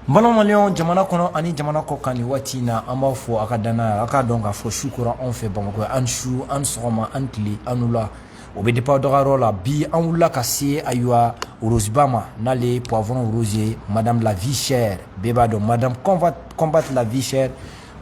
balima malien jamana kɔnɔ ani jamana kɔkan nin waati in na an b'a fɔ a ka dan a k'a dɔn k'a fɔ su kora anw fɛ bamakɔ aw ni su aw ni sɔgɔma aw ni tile aw ni wula o bɛ dépend dagayɔrɔ la bi an wulila ka se ayiwa rosiba ma n'ale poivron rose madame la vie chère bɛɛ b'a dɔn madame combat la vie chère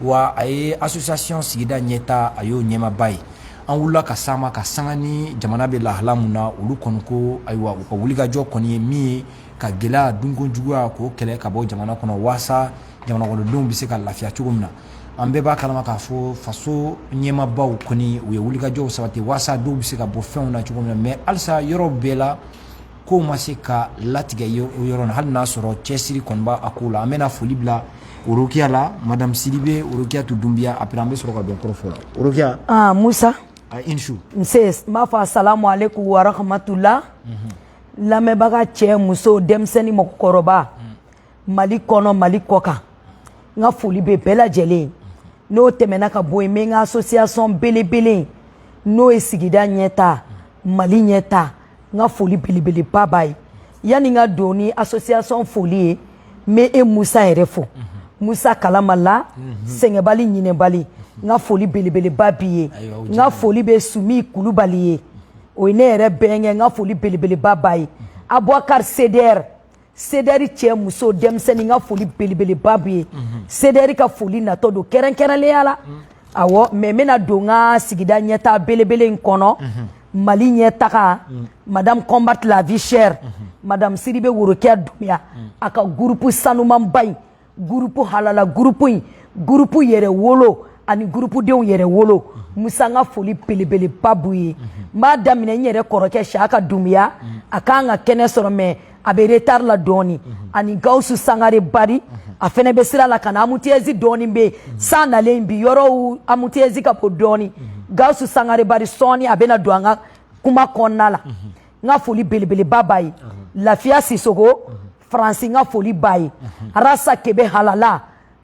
wa a ye association sigida ɲɛta a y'o ɲɛmaba ye an wulila ka s'a ma k'a sanga ni jamana bɛ lahala min na olu kɔni ko ayiwa u ka wulikajɔ kɔni ye min ye ka gɛlɛya dunko juguya k'o kɛlɛ ka bɔ jamana kɔnɔ walasa jamana kɔnɔdenw bɛ se ka lafiya cogo min na an bɛɛ b'a kalama k'a fɔ faso ɲɛmaabaw kɔni u ye wulikajɔw sabati walasa dɔw bɛ se ka bɔ fɛnw na cogo min na mɛ halisa yɔrɔ bɛɛ la ko ma se ka latigɛ yɔrɔ hali n'a sɔrɔ cɛsiri kɔni b'a ko la an bɛna foli bila worokiya la madame sidibe worokiyatu dunbiya après an bɛ sɔrɔ ka don kɔrɔfɔ worokiya musa i ni su n b'a fɔ asalamu alekum warahmatula lamɛnbaga cɛ muso denmisɛnnin mɔgɔkɔrɔba mali kɔnɔ mali kɔkan n ka foli bɛ bɛɛ lajɛlen n'o tɛmɛna ka bɔ yen n bɛ n ka association belebele n'o ye sigida ɲɛta mali ɲɛta n ka foli belebeleba b'a ye yanni n ka don ni association foli ye n bɛ e musa yɛrɛ fo musa kalamala sɛgɛnbali ɲinɛbali n ka foli belebeleba b'i ye n ka foli bɛ sumi kulubali ye o ye ne yɛrɛ bɛnkɛ n ka foli belebeleba b'a ye abubakari sedɛri sedɛri cɛ muso denmisɛnnin n ka foli belebeleba b'i ye sedɛri ka foli natɔ don kɛrɛnkɛrɛnnenya la awɔ mɛ n bɛna don n ka sigida ɲɛtaa belebele in kɔnɔ mali ɲɛtaga mm. madame combat la vie chère mm -hmm. madame sidibe worokiya dunbiya mm. a ka gurupu sanumanba in gurupu halala gurupu in gurupu yɛrɛwolo ani gurupudenw yɛrɛwolo mm-hmm. musa n ka foli belebeleba b'u ye n mm-hmm. b'a daminɛ n yɛrɛ kɔrɔkɛ siyaka dunbiya mm. a kan ka kɛnɛ sɔrɔ mɛ a bɛ retard la dɔɔni ani gawusu sangare bari a fɛnɛ bɛ sira la ka na embouteillage dɔɔni bɛ yen san nalen bi yɔrɔw embouteillage ka bon dɔɔni gawusu sangare bari sɔɔni a bɛna don an ka kuma kɔnɔna la n ka foli belebeleba b'a ye lafiya sisoko faransi n ka foli b'a ye arasa kebe halala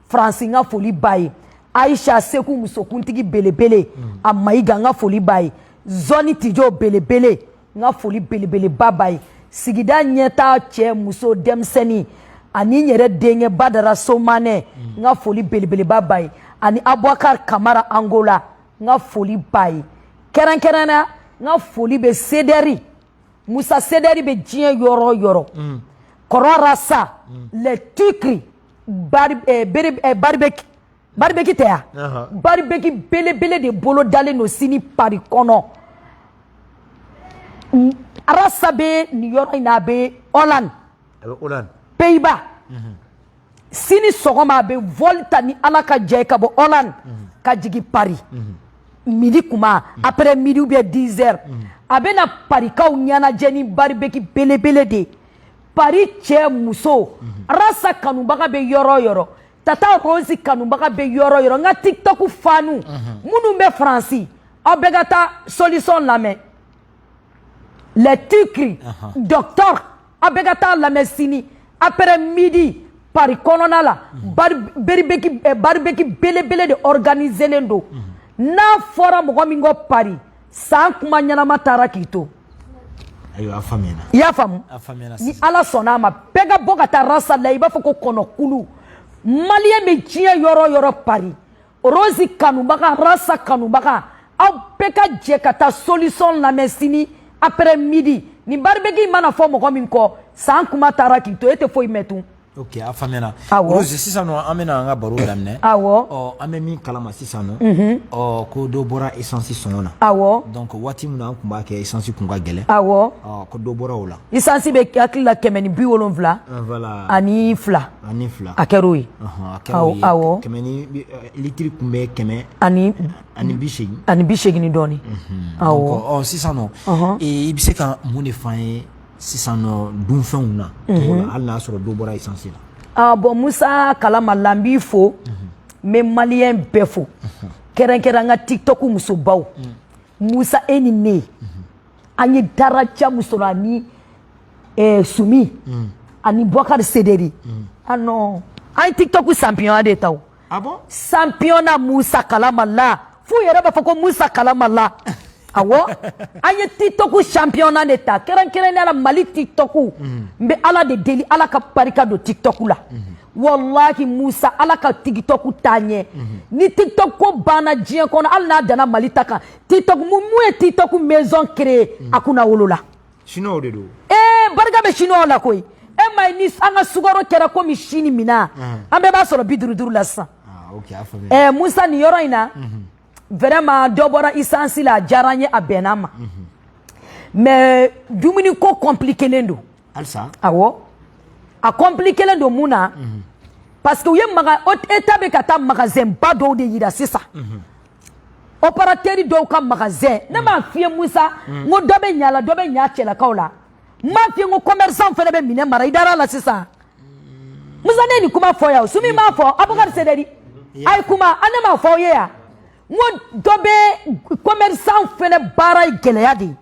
faransi n ka foli b'a ye aisha seku musokuntigi belebele a mayiga n ka foli b'a ye zɔni tijo belebele n ka foli belebeleba b'a ye sigida ɲɛtaa cɛ muso denmisɛnnin ani n yɛrɛ denkɛ badara somanɛ n ka foli belebeleba b'a ye ani abubakar kamara angola n ka foli b'a ye kɛrɛnkɛrɛnnenya n ka foli bɛ sedɛri musa sedɛri bɛ diɲɛ yɔrɔ o yɔrɔ mm. kɔrɔ rasa mm. le tukiri eh, eh, baribeki baribeki tɛ ya baribeki belebele de bolodalen don sini pari kɔnɔ arasa bɛ nin yɔrɔ in na a bɛ ɔlan peyiba sini sɔgɔma a bɛ vɔli ta ni ala ka jɛn ye ka bɔ ɔlan ka jigin pari midi kuma après midi ou bien 10 heures a bɛna parikaw ɲɛnajɛ ni baribeki belebele de ye pari cɛ muso arasa kanubaga bɛ yɔrɔ o yɔrɔ tata rosi kanubaga bɛ yɔrɔ o yɔrɔ n ka tiktok fanu minnu bɛ faransi aw bɛɛ ka taa solution lamɛn les tikri docteur aw bɛɛ ka taa lamɛn sini après midi pari kɔnɔna la baribeki belebele de organiselen don n'a fɔra mɔgɔ min kɔ pari san kuma ɲɛnama taara k'i to i y'a faamu ni ala sɔnna a ma bɛɛ ka bɔ ka taa rasa la i b'a fɔ ko kɔnɔkulu maliyɛn bɛ diɲɛ yɔrɔ o yɔrɔ pari rosi kanubaga rasa kanubaga aw bɛɛ ka jɛ ka taa solution lamɛn sini après midi ni baribeki mana fɔ mɔgɔ min kɔ san kuma taara k'i to e tɛ foyi mɛn tun Ok a faamuyana Rose sisan nɔ an bɛna an ka baro daminɛ an bɛ min kalama sisan nɔ ko dɔ bɔra esansi sɔngɔ na donc waati min na an tun b'a kɛ esansi tun ka gɛlɛn ko dɔ bɔra o la esansi bɛ hakili la kɛmɛ ni bi wolonwula ani fila a kɛra o ye litiri tun bɛ kɛmɛ ani bi segin ani bi segin ni dɔɔnin sisan nɔ i bɛ se ka mun de fɔ an ye sisan nɔ dunfɛnw na mhm. hali n'a sɔrɔ dɔ bɔra esansi la ah, bɔn musa kalamala n b'i fo mhm. n bɛ maliyɛn bɛɛ fo mhm. kɛrɛnkɛrɛn an ka tiktok musobaw musa e ni ne an ye daraja min sɔrɔ ani eh, sumi ani bɔkari sederi ah non an ye tiktok sanpiyɔna de ta o ah bon? sanpiyɔna musa kalamala f'u yɛrɛ b'a fɔ ko musa kalamala awɔ an ye tiktok sanpiyɔna de ta kɛrɛnkɛrɛnnenya la mali tiktok mhm. n bɛ ala de deli ala ka barika don tiktok la mhm. walahi musa ala ka tiktok taa ɲɛ mhm. ni tiktok ko banna diɲɛ kɔnɔ hali n'a danna mali ta kan tiktok minnu ye tiktok maison créer a kunnawolola siniwaw de don ee barika bɛ siniwaw la koyi e m'a ye ni an ka sukaro kɛra komi sini minan an bɛɛ b'a sɔrɔ bi duuru duuru la sisan ɛɛ musa nin yɔrɔ in na vraiment dɔ bɔra isansi la a diyara n ye a bɛnna n ma mais dumuni ko kɔnplikelen don halisa awɔ a kɔnplikelen don mun na parce que u ye maga eta bɛ ka taa magasin ba dɔw de yira sisan operateri dɔw ka magasɛn ne m'a f'i ye musa n ko dɔ bɛ ɲa la dɔ bɛ ɲa cɛlakaw la n m'a f'i ye n ko commerçant fana bɛ minɛn mara i dara a la sisan musa ne ye nin kuma fɔ yan sumi m'a fɔ abukari sedɛri a ye kuma a ne m'a fɔ aw ye yan n ko dɔ bɛ commerçant fana bara ye gɛlɛya de ye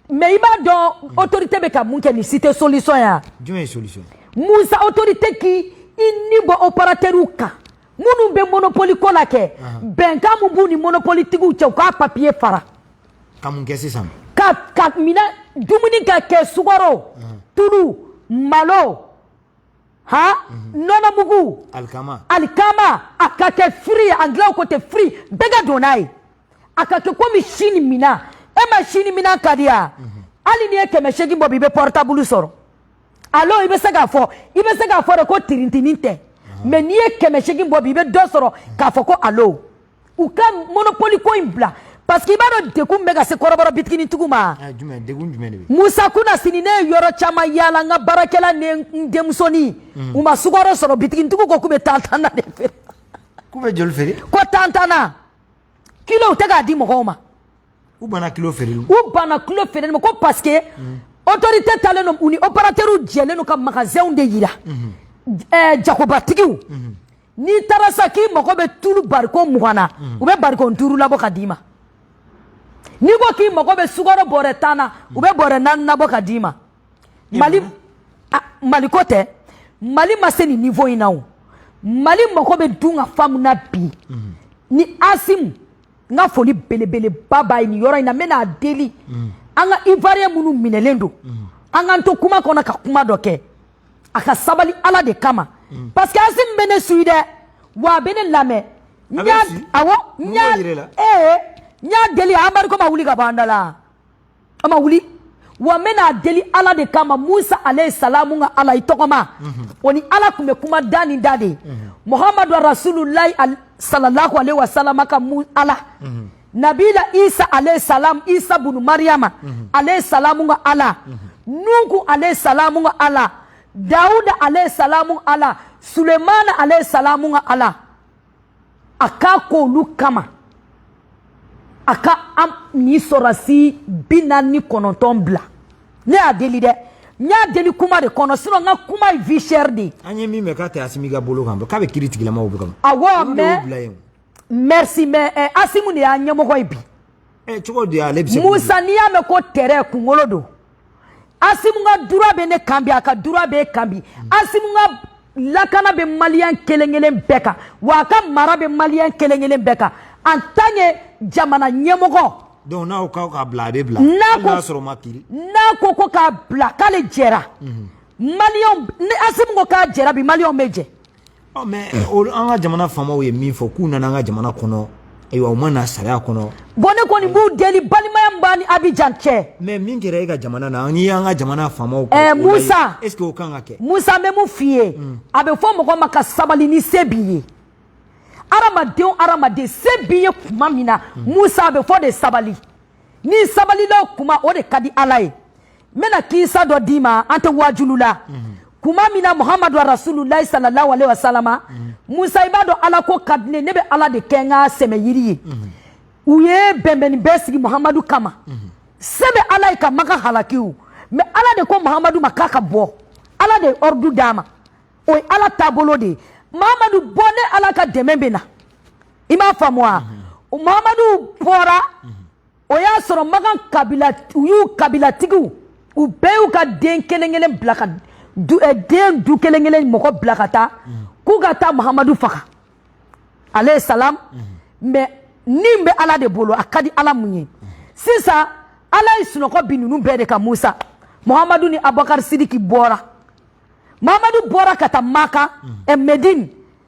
mɛ i b'a dɔn autorité bɛ ka mun kɛ nin si tɛ solution ye jumɛn ye solution musa autorité k'i i ni bɔ opérateurw kan minnu bɛ monopoli ko la kɛ bɛnkan min b'u ni monopoli tigiw cɛ u k'a papiye fara ka mun kɛ sisan ka ka minɛ dumuni ka kɛ sukaro tulu malo ha mm -hmm. nɔnɔ mugu alikama alikama a ka kɛ firi ye angilɛw ko tɛ firi bɛɛ ka don n'a ye a ka kɛ komi sini minan e ma sini minan ka diya mm -hmm. hali n'i ye kɛmɛ seegin bɔ bi i bɛ pɔrɔtabulu sɔrɔ alo i bɛ se k'a fɔ i bɛ se k'a fɔ de ko tirintinin tɛ mɛ n'i ye kɛmɛ seegin bɔ bi i bɛ dɔ sɔrɔ k'a fɔ ko alo u ka monopoli ko in bila parce que i b'a dɔn degun bɛ ka se kɔrɔbɔrɔ bitigini tigiw ma ah, musa kunasini ne ye yɔrɔ caman yaala n ka baarakɛla ni n denmusonin hmm. u ma sukaro sɔrɔ bitigini tigiw ko k'u bɛ tantan na de feere k'u bɛ joli feere ko tantan na kilo u tɛ k'a di mɔgɔw ma u bana kilo feereli ma u bana kilo feereli ma ko parce que autorité taalen don u ni opérateur jɛlen don ka magasinw de yira ɛɛ jagobatigiw n'i taara sa k'i mago bɛ tulu bariko mugan na u bɛ bariko duuru labɔ ka d'i ma n'i ko k'i mago bɛ sukaro bɔrɛ tan na u bɛ bɔrɛ naani labɔ ka d'i ma mali mali ko tɛ mali ma se nin niveau in na o mali mago bɛ dunkafa min na bi ni asimu n ka foli belebeleba b'a ye nin yɔrɔ in na n bɛna a deli an ka ivoirien minnu minɛlen don an k'an to kuma kɔnɔ ka kuma dɔ kɛ a ka sabali ala de kama parce que asim bɛ ne suyi dɛ wa a bɛ ne lamɛn n y'a awɔ n y'a ee n y'a deli embargo ma wuli ka bɔ an da la an ma wuli wa n bɛna deli ala de kama musa ale salamu ka ala i tɔgɔma mhm. o ni ala tun bɛ kuma da ni da de ye mhm. muhamadu rasululayi salallahu alaihi wa salama ka mu ala mhm. nabila isa ale salam isa bunu mariyama ale salamu ka ala nuku ale salamu ka ala dawuda ale salamu ala sulemana ale salamu ka ala a k'a ko olu kama a ka nin sɔrɔdasi bi naani ni kɔnɔntɔn bila ne y'a deli dɛ n y'a deli kuma de kɔnɔ sinon n ka kuma ye vie chère de ye. an ye min mɛn k'a tɛ asimi ka bolo kan k'a bɛ kiritigɛla maaw bolo kan. awɔ mɛ merci mɛ ɛ asimu de y'an ɲɛmɔgɔ ye bi. ɛ cogo di ale bɛ se k'o musa n'i y'a mɛn ko tɛrɛn kunkolo don. asimu ka droit bɛ ne kan bi a ka droit bɛ e kan bi asimu ka lakana bɛ maliyɛn kelen kelen bɛɛ kan wa a ka mara bɛ maliyɛn kelen kelen bɛɛ kan en tant que jamana ɲɛmɔgɔ donc n'a ko k'a bila a bɛ bila n'a ko sɔrɔ ma kiri n'a ko ko k'a bila k'ale jɛra maliyɛnw ni asimu ko k'a jɛra bi maliyɛnw bɛ jɛ ɔ mais olu an ka jamana faamaw ye min fɔ k'u nana an ka jamana kɔnɔ ayiwa u ma na sariya kɔnɔ bon ne kɔni b'u deli balimaya min b'an ni abijan cɛ mais min kɛra an ka jamana na n'i y'an ka jamana faamaw ka ɛɛ o la ye, musa est ce que o kan ka kɛ musa n bɛ mun f'i ye a bɛ fɔ mɔgɔ ma ka sabali ni se b'i ye hadamaden o hadamaden se b'i ye kuma min na musa a bɛ fɔ de sabali n'i sabalila o kuma o de ka di ala ye n bɛna kisa dɔ d'i ma an tɛ waajulu la kuma min na muhamadu rasululayi salalahu aleyi wa salama musa i b'a dɔn ala ko ka di ne ne bɛ ala de kɛ n ka sɛmɛyiri ye u ye bɛnbɛnni bɛɛ sigi muhamadu kama se bɛ ala ye ka makan halaki mais ala de ko muhamadu ma k'a ka bɔ ala de ye ordre d'a ma o ye ala taabolo de ye muhamadu bɔ ne ala ka dɛmɛ bɛ na i m'a faamu wa muhamadu bɔra o y'a sɔrɔ makan kabila u y'u kabilatigiw u bɛɛ y'u ka den kelen kelen bila ka du eh, den du kelen kelen mɔgɔ bila ka taa k'u ka taa muhamadu faga aleyi salam mais nin bɛ ala de bolo a ka di ala mun ye sisan ala ye sunɔgɔ bin ninnu bɛɛ de kan musa muhamadu ni abubakar sidiki bɔra muhamadu bɔra ka taa maka eh, medine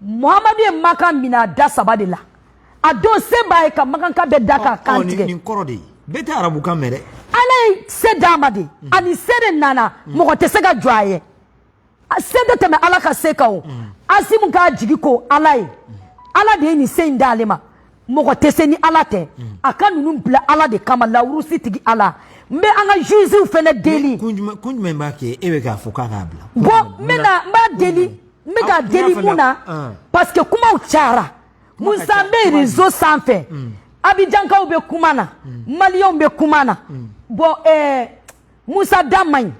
muhamadu ye makan minɛ a da saba de la a don se b'a ye ka makanka bɛɛ da k'a kan tigɛ nin kɔrɔ de ye bɛɛ tɛ arabukan mɛn dɛ ala ye se d'a ma de a ni se de nana mɔgɔ tɛ se ka jɔ a ɲɛ se tɛ tɛmɛ ala ka se kan o asimu k'a jigi ko ala ye ala de ye nin se in d'ale ma mɔgɔ tɛ se ni ala tɛ a ka ninnu bila ala de kama lawurusi tigi ala n bɛ an ka juzuw fana deli kun jumɛn b'a kɛ e bɛ k'a fɔ k'a k'a bila bɔn n bɛna n b'a deli n bɛ k'a deli mun na parce que kumaw cayara musa n bɛ réseau sanfɛ mm. abijankaw bɛ kuma na mm. maliyɛnw bɛ kuma na mm. bɔn eh, musa da man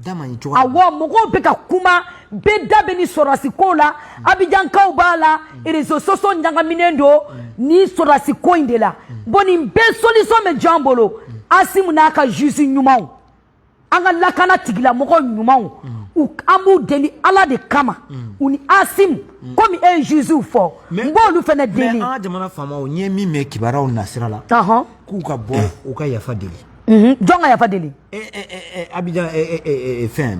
ɲi awɔ mɔgɔw bɛ ka kuma bɛɛ da bɛ nin sɔrɔdasi ko la abijankaw b'a la réseaux sociaux ɲagaminen don nin sɔrɔdasi ko in de la bɔn nin bɛɛ solution bɛ jɔn bolo asimu n'a ka juzu ɲumanw an ka lakana tigilamɔgɔ ɲumanw an b'u deli ala de kama u ni asimu komi e ye juzuw fɔ n b'olu fana deli an ka jamana faamaw n ye min mɛn kibaruyaw nasira la k'u ka bɔ u ka yafa deli jɔn ka yafa deli abijan fɛn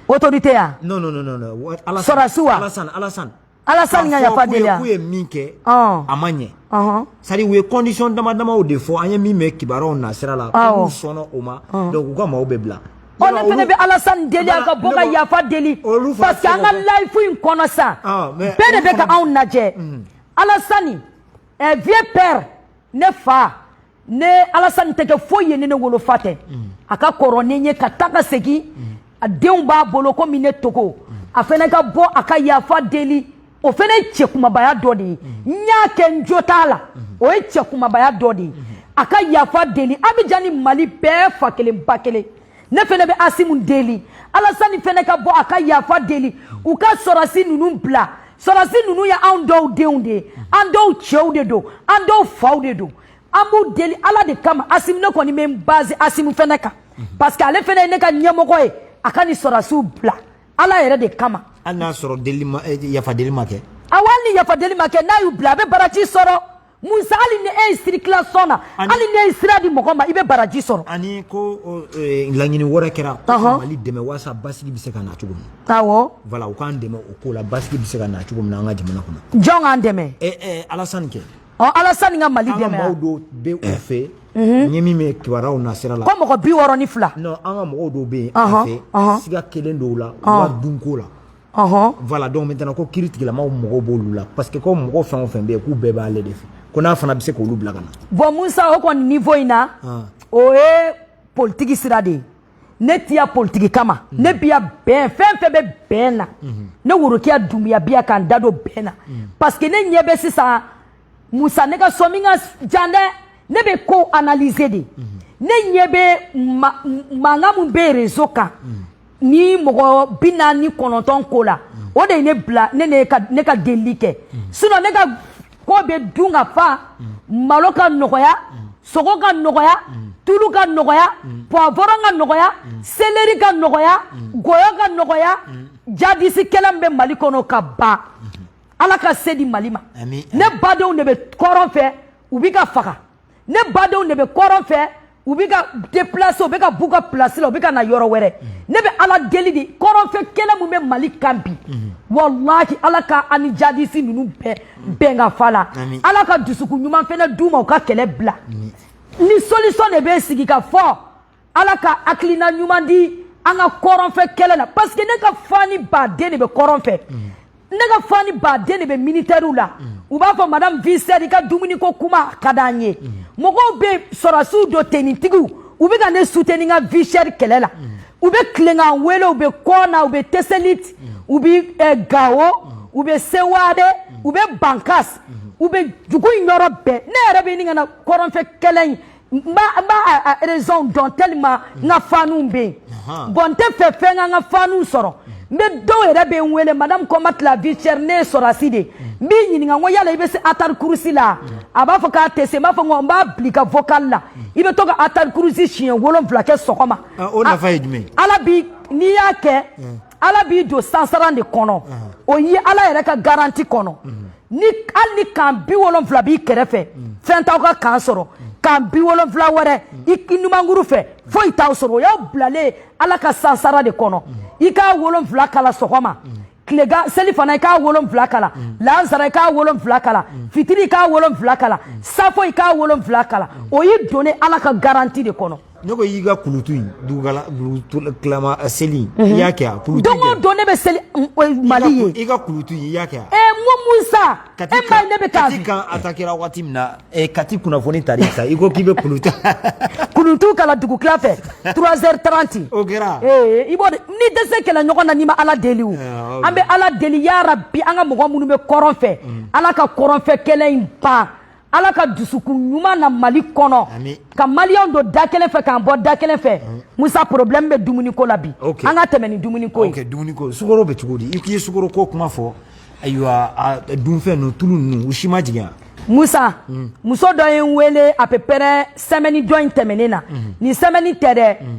autorité ya non non non non wala sɔrɔdasiw wa alasan alasan Alassane ka yafa deli yan. K'a fɔ k'u ye min kɛ, ɔn, a ma ɲɛ. Ɔnhɔn. C'est à dire u ye condition dama damaw de fɔ, an ye min mɛn kibaruyaw nasira la, awɔ, k'u sɔnna o ma, ɔn, donc u ka maaw bɛ bila. Ɔ oh, ne fana bɛ Alassane deli a ka bɔ ka yafa deli parce que an ka live in kɔnɔ sa ah, bɛɛ de bɛ ka anw lajɛ Alassane vieux père ne fa ne alasani tɛ kɛ foyi ye ni ne wolofa tɛ mm. a ka kɔrɔ ni n ye ka taa ka segin mm. a denw b'a bolo komi ne togo mm. a fɛnɛ ka bɔ a ka yafa deli o fɛnɛ ye cɛkumabaya dɔ de ye n y'a kɛ n jo t'a la o ye cɛkumabaya dɔ de ye a ka yafa deli abijan ni mali bɛɛ fa kelen ba kelen ne fɛnɛ bɛ asimu deli alasani fɛnɛ ka bɔ a ka yafa deli u ka sɔrasi ninnu bila sɔrasi ninnu ye an dɔw denw de ye an dɔw cɛw de don an dɔw faw de don an b'u deli ala de kama asimu ne kɔni bɛ n baser asimu fɛnɛ kan parce que ale fɛnɛ ye ne ka ɲɛmɔgɔ ye a ka nin sɔrasiw bila ala yɛrɛ de kama hali n'a sɔrɔ deli ma eh, yafa deli ma kɛ awa hali ni yafa deli ma kɛ n'a y'u bila a bɛ baraji sɔrɔ musa hali ni e ye circulation na hali ni e ye sira di mɔgɔ ma i bɛ baraji sɔrɔ ani ko e, laɲini wɛrɛ kɛra mali dɛmɛ walasa basigi bɛ se ka na cogo min awɔ voilà u k'an dɛmɛ o ko la basigi bɛ se ka na cogo min na an ka jamana kɔnɔ jɔn k'an dɛmɛ eh, eh, alasani kɛ ɔ alasani ka mali dɛmɛ an ka maaw dɔw bɛ o fɛ n ye min mɛn kibaruyaw nasira la ko mɔgɔ bi wɔɔrɔ ni fila non an ka mɔgɔw dɔw bɛ yen a fɛ siga kɛlen dɔw la wari dunko la ɔhɔn voilà donc maintenant ko kiritigɛlama mɔgɔw b'olu la parce que ko mɔgɔ fɛn o fɛn bɛ yen k'u bɛɛ b'ale de fɛ ko n'a fana bɛ se k'olu bila ka na bɔn musa o kɔni niveau in na o ye politiki sira de ye ne tɛ yan politiki kama ne bɛ yan bɛn fɛn fɛn bɛ bɛn na ne worokiya dunbiya bɛ yan ka n da don bɛn na parce que ne ɲɛ bɛ sisan musa ne ka sɔmi ka jan dɛ ne bɛ ko analyser de ne ɲɛ bɛ mankan min bɛ réseau kan nin mɔgɔ bi naani kɔnɔntɔn ko la o de ye ne bila ne ne ka ne ka delili kɛ sinon ne ka ko bɛɛ dunkafa malo ka nɔgɔya sogo ka nɔgɔya tulu ka nɔgɔya poivron ka nɔgɔya seleri ka nɔgɔya gɔyɔ ka nɔgɔya jadisi kɛlɛ min bɛ mali kɔnɔ ka ban ala ka se di mali ma ne badenw de bɛ kɔrɔn fɛ u bɛ ka faga ne badenw de bɛ kɔrɔn fɛ u bɛ ka déplacer u bɛ ka b'u ka place la u bɛ ka na yɔrɔ wɛrɛ ne bɛ ala deli de kɔrɔnfɛ kɛlɛ min bɛ mali kan bi walahi ala ka an ni jadisi ninnu bɛɛ bɛn ka fa la ala ka dusukun ɲuman fɛnɛ d'u ma u ka kɛlɛ bila nin solution de bɛ sigi ka fɔ ala ka hakilina ɲuman di an ka kɔrɔnfɛ kɛlɛ la parce que ne ka fa ni baden de bɛ kɔrɔn fɛ ne ka fa ni baden de bɛ militaire la u b'a fɔ madame vie chère i ka dumuni ko kuma ka di an ye mɔgɔ bɛɛ sɔrasiw do tenitigiw u bɛ ka ne soutenir n ka vie chère kɛlɛ la u bɛ tilen ka n wele u bɛ kɔna u bɛ tesalit u bɛ eh, gawo u bɛ seware u bɛ bankas u bɛ jugu in yɔrɔ bɛɛ ne yɛrɛ bɛ nin ka na kɔrɔnfɛ kɛlɛ in n b'a raison dɔn tellement n ka faniw bɛ yen bon n tɛ fɛ fɛn ka n ka faniw sɔrɔ mais dɔw yɛrɛ bɛ n wele madame combat la vie chère ne ye sɔrɔdasi de ye n b'i ɲininka n ko yala i bɛ se atari kurusi la a b'a fɔ k'a tɛ se n b'a fɔ n ko n b'a bila i ka vocal la i bɛ to ka atari kurusi siɲɛ wolonwula kɛ sɔgɔma o nafa ye jumɛn ye ala bi n'i y'a kɛ ala b'i don sansara de kɔnɔ o ye ala yɛrɛ ka garanti kɔnɔ ni hali ni kan bi wolonfila b'i kɛrɛfɛ fɛn t'aw ka kan sɔrɔ kan bi wolonfila wɛrɛ i numankuru fɛ foyi t'aw sɔrɔ o y'aw bilalen ala ka sansara de kɔnɔ i k'a wolonfila kala sɔgɔma tilega seli fana i k'a wolonfila kala lansara i k'a wolonfila kala fitiri i k'a wolonfila kala safo i k'a wolonfila kala o y'i donnen ala ka garanti de kɔnɔ Ne ko y'i ka kulutu in duguma seli i y'a kɛ dɔn ne bɛ seli mali ye i ka kulutu i y'a kɛ musa ka ne bɛ kati camp atakera waati min na kati kunnafoni ta sa i ko k'i bɛ kulutu kulutu kala dugu tila fɛ trois heures trente o kɛra i ni dɛsɛse kɛlɛ ɲɔgɔn na n'i ma ala deli an bɛ ala deli yarabi an ka mɔgɔ minnu bɛ kɔrɔn fɛ ala ka kɔrɔnfɛ kɛlɛ in ban ala ka dusukun ɲuman na mali kɔnɔ ka maliyɛnw don da kelen fɛ k'an bɔ da kelen fɛ musa problème bɛ dumuniko la bi an ka tɛmɛ ni dumuniko ye dumuniko sukoro bɛ cogo di i k'i ye sukoro ko kuma fɔ ayiwa dunfɛn ninnu tulu ninnu u si ma jigin musa mm. muso dɔ ye n wele à peu près semaine dɔ in tɛmɛnen na mm-hmm. nin semaine tɛ dɛ mm.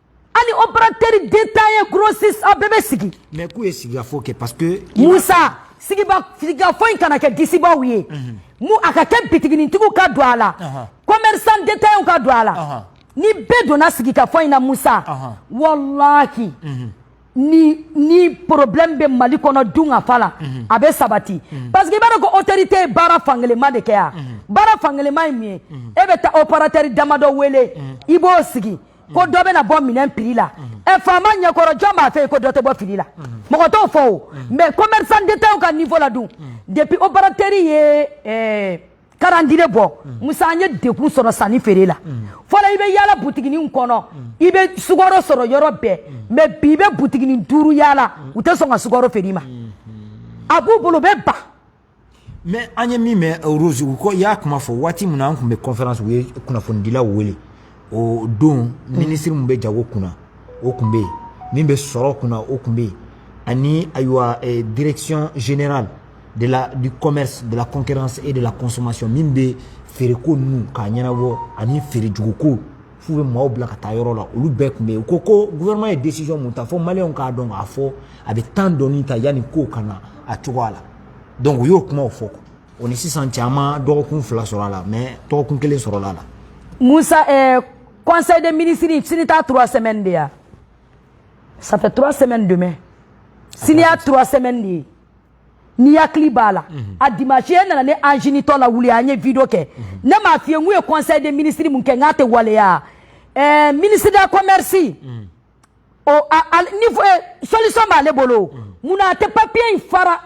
hali opérateur détaillé grossiste a bɛɛ bɛ sigi. mais k'u ye sigikafɔ kɛ parce que. musa sigiba sigikafɔ in kana kɛ disibaw ye. Mhm. mu a ka kɛ bitiginintigiw ka don a la. commerçant détaillants ka don a la. ni bɛɛ donna sigikafɔ in na musa. walahi. Mhm. ni ni problème bɛ mali kɔnɔ dunkafa la mhm. a bɛ sabati mhm. parce que i b'a dɔn ko autorité ye baara fankelenma de kɛ yan mhm. baara fankelenma ye min ye e bɛ taa opérateur damadɔ wele i b'o sigi ko dɔ bɛna bɔ minɛn prix la ɛ faama ɲɛkɔrɔ jɔn b'a fɔ yen ko dɔ tɛ bɔ prix la mɔgɔ t'o fɔ o mais commerçant détaillant ka niveau la dun depuis opérateur ye ɛɛ calendrier bɔ musa an ye degun sɔrɔ sanni feere la fɔlɔ i bɛ yaala butiginin kɔnɔ i bɛ sukaro sɔrɔ yɔrɔ bɛɛ mais bi i bɛ butiginin duuru yaala u tɛ sɔn ka sukaro feere i ma a b'u bolo u bɛ ban mais an ye min mɛn rose u ko i y'a kuma fɔ waati min na an tun bɛ conférence u ye kunnafonidilaw wele o don minisiri min bɛ jago kunna o tun bɛ yen min bɛ sɔrɔ kunna o tun bɛ yen ani ayiwa eh, direction générale de la du commerce de la concurrence et de la consommation min bɛ feereko ninnu k'a ɲɛnabɔ ani feerejuguko f'u bɛ maaw bila ka taa yɔrɔ la olu bɛɛ tun bɛ yen u ko ko gouvernement ye décision mun ta fo maliyɛnw k'a dɔn k'a fɔ a bɛ temps dɔɔni ta yanni kow ka na a cogoya la donc u y'o kumaw fɔ o ni sisan cɛ an ma dɔgɔkun fila sɔrɔ a la mais dɔgɔkun kelen sɔrɔla a la. Musa eh, conseil des ministres sini t'a trois semaines de ya ça fait trois semaines demain sini y'a trois semaines de ye. n'i hakili b'a la mhm. a dimanche e nana ne anzinitɔ lawuli an ye video kɛ mhm. ne m'a f'i ye n k'u ye conseil de ministre mun kɛ n k'a tɛ waleya ɛɛ ministre de commerce mhm. o a a ni fɔ eh, solution b'ale bolo mun na a tɛ papier in fara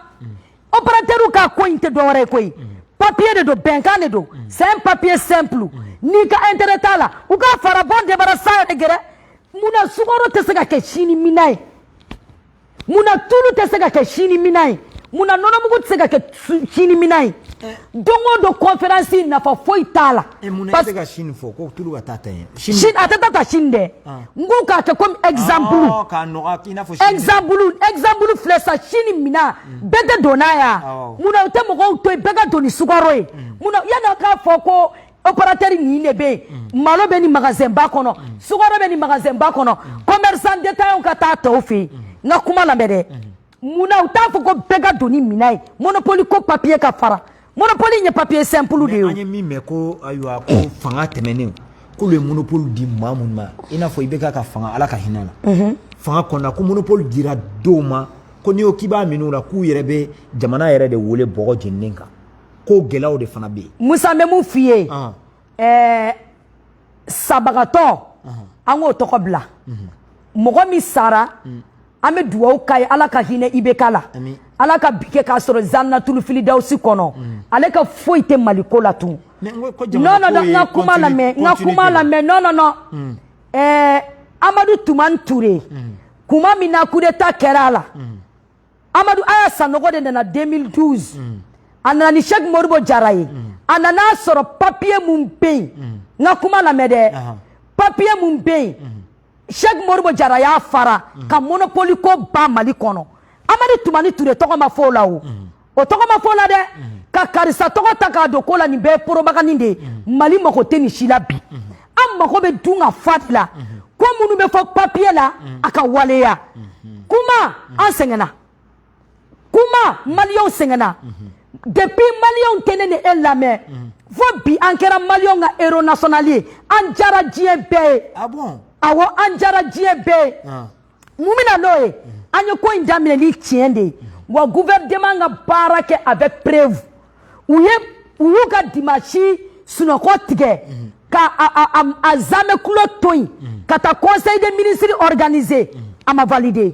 opérateur ka ko in tɛ dɔwɛrɛ ye koyi papier de don bɛnkan de don c'est un papier simple n'i ka intérêt t'a la u k'a fara bon débarrassant yɛrɛ gɛrɛ mun na sukaro tɛ se ka kɛ sini minan ye. munna tulu tɛ se ka kɛ sini minan ye munna nɔnɔmugu tɛ se ka kɛ sini minan ye eh. don o don kɔnferansi nafa foyi t'a la. Eh, mun na e tɛ ka sini fɔ ko tulu ka taa ta yen. sini a tɛ taa ta sini dɛ. Ah. n ko k'a kɛ komi ɛgizanpulu. Ah, k'a nɔgɔya i n'a fɔ sini. ɛgizanpulu ɛgizanpulu filɛ sa sini minan hmm. bɛɛ tɛ don n'a ye a. mun na u tɛ mɔgɔw to yen bɛɛ ka don ni sukaro ye. Hmm. mun na yanni a k'a fɔ ko. opérateur nin de bɛ yen malo bɛ nin magasin ba kɔnɔ sukaro bɛ nin magasin ba kɔnɔ commerçant détaillant ka taa ta u fɛ yen n ka kuma lamɛn dɛ mun na u t'a fɔ ko bɛɛ ka don ni minɛn ye monopole ko papier ka fara monopole in ye papier simple de ye o. an ye min mɛn ko ayiwa ko fanga tɛmɛnen k'olu ye monopole di maa minnu ma i n'a fɔ IBK ka fanga ala ka hinɛ a la fanga kɔnɔna ko monopole dira dɔw ma ko n'i ko k'i b'a minɛ u la k'u yɛrɛ bɛ jamana yɛrɛ de wele bɔgɔ jeninen kan. ko gɛlɛyaw de fana bɛ yen musa n bɛ mun f'i ye ɛɛ sabagatɔ an k'o tɔgɔ bila mɔgɔ min sara an bɛ dugawu k'a ye ala ka hinɛ IBK la ala ka bi kɛ k'a sɔrɔ zanatulu filidawusi kɔnɔ ale ka foyi tɛ mali ko la tun non non n ka kuma lamɛn n ka kuma lamɛn non non non ɛɛ amadu tumani ture kuma min na kudeta kɛra a la amadu aya sanɔgɔ de nana 2012 mm. a nana ni sɛki modibo jara ye mm. a nana sɔrɔ papiye mun bɛ yen mm. n ka kuma lamɛn dɛ papiye mun bɛ yen sɛki modibo jara y'a fara ka monopoli ko ban mali kɔnɔ amadu tumani ture tɔgɔ ma fɔ o la o o tɔgɔ ma fɔ o la dɛ ka karisa tɔgɔ ta k'a don ko la nin bɛɛ ye poropagandi de ye mali mago tɛ nin si la bi an mago bɛ dun ka fa de la ko minnu bɛ fɔ papiye la a ka waleya kuma an sɛgɛnna kuma maliyɛnw sɛgɛnna depi maliyɛnw tɛ ne ni e lamɛn fo bi an kɛra maliyɛnw ka ero nasonali ye an jara diɲɛ bɛɛ ye awɔ an jara diɲɛ bɛɛ ye mun bɛ na n'o ye an ye ko in daminɛ ni tiɲɛ de ye wa gouvernement ka baara kɛ avec preuve u ye u y'u ka dimanche sunɔgɔ tigɛ ka a a a a zamɛ kulo to yen ka taa conseil des ministres organiser a ma valider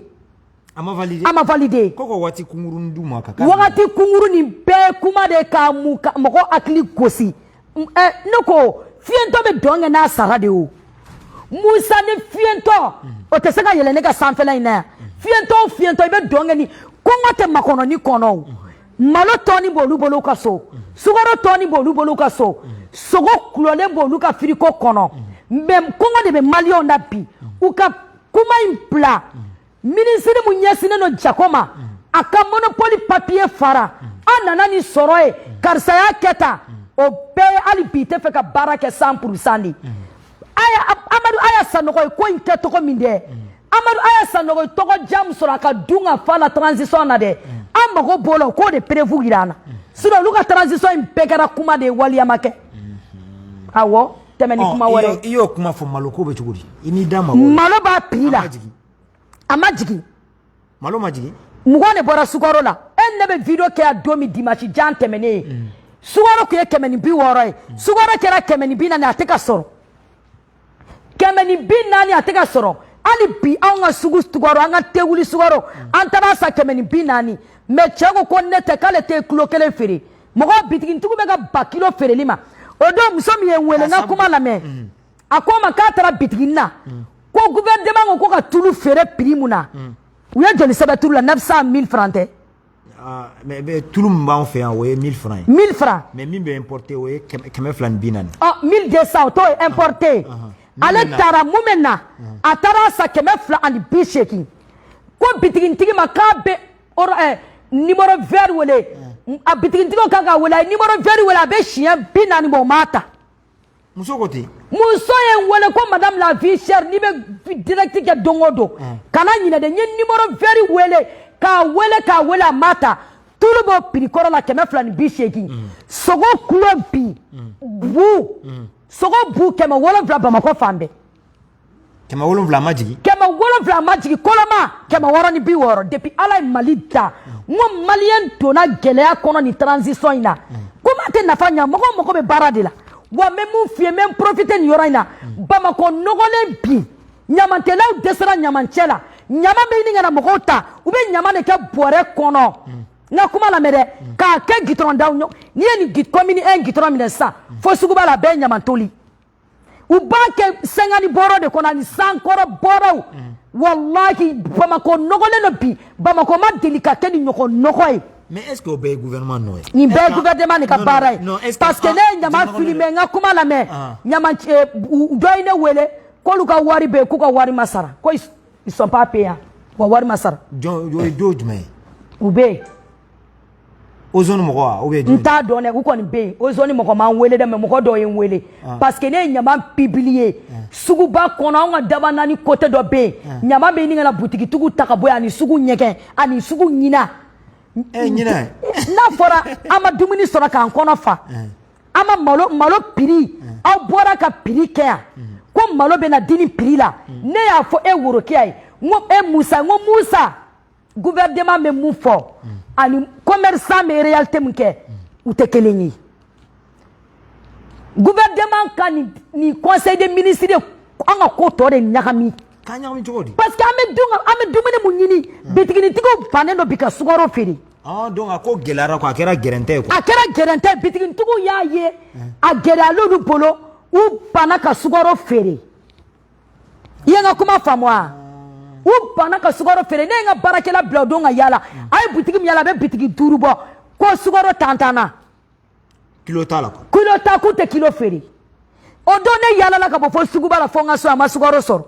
a ma valider a ma valider ko ka waati kunkuruni d'u ma ka wagati kunkuruni bɛɛ kuma de ye ka mɔgɔ hakili gosi ne ko fiyentɔ bɛ dɔn kɛ n'a sara de o musa ni fiyentɔ o tɛ se ka yɛlɛ ne ka sanfɛla in na yan fiyentɔ o fiyentɔ i bɛ dɔn kɛ ni kɔngɔ tɛ maa kɔnɔni kɔnɔ o malo tɔni b'olu bolo ka so sukaro tɔni b'olu bolo ka so sogo kulɔlen b'olu ka firiko kɔnɔ mais kɔngɔ de bɛ maliyɛnw na bi u ka kuma in bila minisiri mun ɲɛsinnen don jago ma a ka monopole papier fara an nana ni sɔrɔ ye karisa y'a kɛ tan o bɛɛ ye hali bi tɛ fɛ ka baara kɛ cent pour cent de amadu haya sanɔgɔ ye ko in kɛ tɔgɔ min dɛ amadu haya sanɔgɔ ye tɔgɔ ja min sɔrɔ a ka dunkafa la transition na dɛ an mago b'o la o k'o de preuve jira an na sinon olu ka transition in bɛɛ kɛra kuma de ye waleya ma kɛ awɔ tɛmɛ ni kuma wɛrɛ i y'o kuma fɔ malo ko bɛ cogo di i n'i da malo b'a prix la a ma jigin malo ma jigin mugan de bɔra sukaro la e ne bɛ video kɛ a don min dimanche jan tɛmɛnen ye mm. sukaro tun ye kɛmɛ ni bi wɔɔrɔ ye mm. sukaro kɛra kɛmɛ ni bi naani a tɛ ka sɔrɔ kɛmɛ ni bi naani a tɛ ka sɔrɔ hali bi anw ka sugu sukaro an ka tewuli sukaro mm. an taara a san kɛmɛ ni bi naani mais cɛ ko ko ne tɛ k'ale tɛ kilo kelen feere mɔgɔ bitigitigiw bɛ ka ban kilo feereli ma o don muso min ye n wele n ka kuma lamɛn a ko n ma k'a taara bitigini na mm. ko gouvernement ko ko ka tulu feere prix mun na mm. u ye joli sɛbɛn tulu la 900 1000 francs tɛ Ah, mais, mais tulu min b'an fɛ yan o ye 1000 francs. 1000 francs. Mais min bɛ importé o ye kɛmɛ fila ni bi naani. Oh, 1200 t'o ye importé. Ah, ah, ale taara mumɛ na. a taara a san kɛmɛ fila ni bi seegin. ko bitigitigi ma k'a bɛ eh numéro vert wele. a bitigitigi ko k'a wele a ye numéro vert wele a bɛ siɲɛ bi naani bɔ a ma ta. muso ko ten muso ye n wele ko madame la vie chère n'i bɛ direct kɛ don o don kana ɲinɛ dɛ n ye numéro vert wele k'a wele k'a wele a ma ta tulu b'o prix kɔrɔ la kɛmɛ fila ni bi seegin sogo kulo bi bu sogo bu kɛmɛ wolonwula bamakɔ fan bɛɛ kɛmɛ wolonwula ma jigin kɛmɛ wolonwula ma jigin koloma kɛmɛ wɔɔrɔ ni bi wɔɔrɔ depuis ala ye mali da n ko maliyɛn donna gɛlɛya kɔnɔ nin transition in na kuma tɛ nafa ɲa mɔgɔw mago bɛ baara de la wa n bɛ mun f'i ye n bɛ n profiter nin yɔrɔ in na bamakɔ nɔgɔlen bi ɲamancɛlaw dɛsɛra ɲamancɛ la ɲama bɛ ɲini ka na mɔgɔw ta u bɛ ɲama de kɛ bɔrɛ kɔnɔ n ka kuma lamɛn dɛ k'a kɛ gitɔrɔndaw n'i ye nin commune 1 gitɔrɔn minɛ sisan fo suguba la a bɛɛ ye ɲamantoli u b'a kɛ sangani bɔrɔ de kɔnɔ ani sankɔrɔ bɔrɔw walahi bamakɔ nɔgɔlen don bi bamakɔ ma deli ka kɛ nin ɲɔgɔn nɔgɔ ye Mais est-ce que o bɛɛ ye gouvernement nɔ ye? Nin bɛɛ ye gouvernement de ka baara ye. Parce que ne ye ɲama filmé n ka kuma lamɛn. Ɲama dɔ ye ne wele k'olu ka wari bɛ yen k'u ka wari ma sara ko ils sont pas payés u ka wari ma sara. Jɔn o ye don jumɛn ye? U bɛ yen. ozone mɔgɔ wa ou bien n t'a dɔn dɛ u kɔni bɛ yen ozone mɔgɔ m'an wele dɛ mais mɔgɔ dɔ ye n wele ah. parce que ne ye ɲama publier ah. suguba kɔnɔ anw ka dabanani côté dɔ bɛ yen ah. ɲama bɛ ɲini ka na butigitigiw ta ka bɔ yen ani sugu ɲɛgɛn ani sugu ɲina eh, n'a fɔra an ma dumuni sɔrɔ k'an kɔnɔ fa an ma malo malo prix aw bɔra ka prix kɛ yan ko malo bɛna di nin prix la ne y'a fɔ e worokiya ye n ko e musa n ko musa gouvernement bɛ mun fɔ ani commerçant bɛ réalité min kɛ u tɛ kelen ye gouvernement ka nin nin conseil des ministres de an ka ko tɔ de ɲagami k'a ɲagami cogo di parce que an bɛ dun ka an bɛ dumuni mun ɲini bitiginitigiw bannen don bi ka sukaro feere Ah, donc a ko gɛlɛyara quoi a kɛra gɛrɛntɛ ye quoi a kɛra gɛrɛntɛ ye bitiginitigiw y'a ye a gɛlɛyalen olu bolo u banna ka sukaro feere i ye n ka kuma faamu wa u banna ka sukaro feere ne ye n ka baarakɛla bila o don ka yaala a ye bitigi min yaala a bɛ bitigi duuru bɔ ko sukaro tantanna kilo t'a la quoi. kilo ta k'u tɛ kilo feere o don ne yaalala ka bɔ fo suguba la fo n ka so a ma sukaro sɔrɔ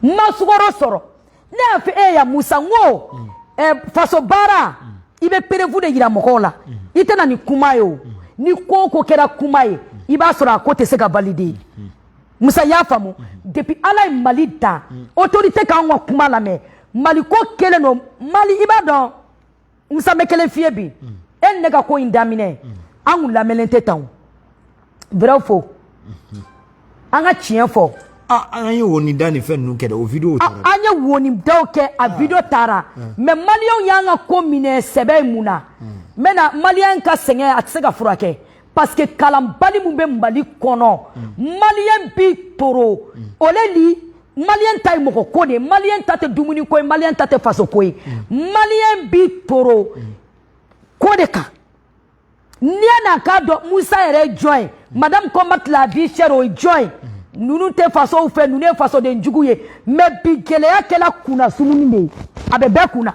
n ma sukaro sɔrɔ ne y'a fɔ e ya musa n ko mm. eh, faso baara mm. i bɛ preuve de yira mɔgɔw la mm. i tɛ na ni kuma ye o ni ko o ko kɛra kuma ye i b'a sɔrɔ a ko tɛ se ka valider musa y'a faamu depuis ala ye mali da autorité k'anw ka kuma lamɛn mali ko kelen don mali i b'a dɔn musa n bɛ kelen f'i ye bi e ni ne ka ko in daminɛ an kun lamɛnlen tɛ tan o vrai fo an ka tiɲɛ fɔ Ah, an ye woni da ni fɛn ninnu kɛ dɛ o video ah, taara an ye woni daw kɛ a ah. video taara mais maliyɛnw y'an ka ko minɛ sɛbɛ ye mun na n bɛna maliyɛn ka sɛgɛn a tɛ se ka furakɛ parce que kalanbali min bɛ mali kɔnɔ maliyɛn bi toro o le li maliyɛn ta ye mɔgɔ ko de ye maliyɛn ta tɛ dumuni ko ye maliyɛn ta tɛ faso ko ye maliyɛn bi toro ko de kan n'i n'a k'a dɔn musa yɛrɛ ye jɔn ye madame combat la vie chère o ye jɔn ye ninnu tɛ faso fɛ ninnu ye fasoden jugu ye mais bi gɛlɛya kɛra kunnasumuni de ye a bɛ bɛɛ kunna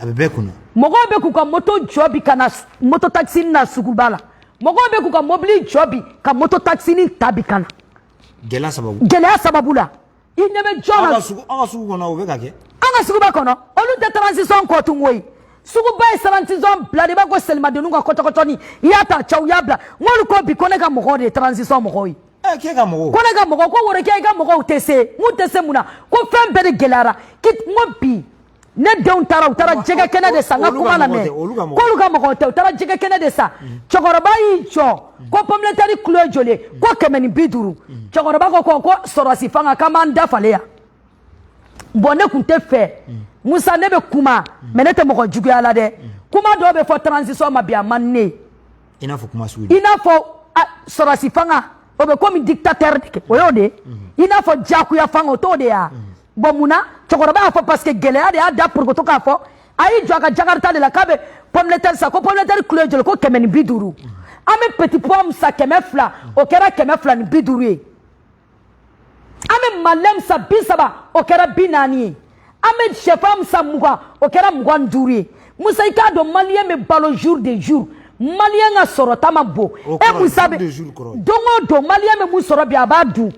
a bɛ bɛɛ kunna mɔgɔw bɛ k'u ka moto jɔ bi ka na moto takisini na suguba la mɔgɔw bɛ k'u ka mobili jɔ bi ka moto takisini ta bi ka na gɛlɛya sababu gɛlɛya sababu la i ɲɛ bɛ jɔ la an ka sugu kɔnɔ o bɛ ka kɛ an ka suguba kɔnɔ olu tɛ taranzisɔn kɔ tun koyi suguba ye taranzisɔn bila de i b'a fɔ selimadenninw ka kɔtɔkɔtɔni i y'a ta cɛw y'a bila n k'olu ko bi ko ne ka mɔgɔw de ye taranzisɔn mɔgɔw ye eh, k'e ka mɔgɔw ko ne ka mɔgɔ ko worokɛ i ka mɔgɔw tɛ se mun tɛ se mun na ko fɛn bɛɛ de gɛlɛyara n ko bi ne denw taara u taara jɛgɛ kɛnɛ de san n ka kuma lamɛn k'olu ka mɔgɔw tɛ u taara jɛgɛ kɛnɛ de san mm. cɛkɔrɔba y'i jɔ mm. ko pomme de terre kilo ye joli mm. ko kɛmɛ ni bi duuru cɛkɔrɔba ko ko ko sɔrɔsi fanga k'an b'an dafalen yan bon ne tun tɛ fɛ musa ne bɛ kuma mais ne tɛ mɔgɔ juguya la dɛ kuma dɔw bɛ fɔ transition ma bi a man ne ye i n'a fɔ kuma sugu i n'a fɔ sɔrɔsi fanga o bɛ komi dictateur de kɛ o y'o de ye i n'a fɔ diyagoya fanga o t'o de ye wa. bon mun na cɛkɔrɔba y'a fɔ parce que gɛlɛya de y'a da porokoto k'a fɔ a y'i jɔ a ka jakarita de la k'a bɛ pomme de terre san ko pomme de terre kilo ye joli ko kɛmɛ ni bi duuru an bɛ petit pomme san kɛmɛ fila o kɛra kɛmɛ fila ni bi duuru ye an bɛ malɛm san bi saba o kɛra bi naani ye an bɛ sɛfan san mugan o kɛra mugan ni duuru ye musa i k'a dɔn maliyɛn bɛ balo jour de jour maliyɛn ka sɔrɔta man bon e musa bɛ don o don maliyɛn bɛ mun sɔrɔ bi a b'a dun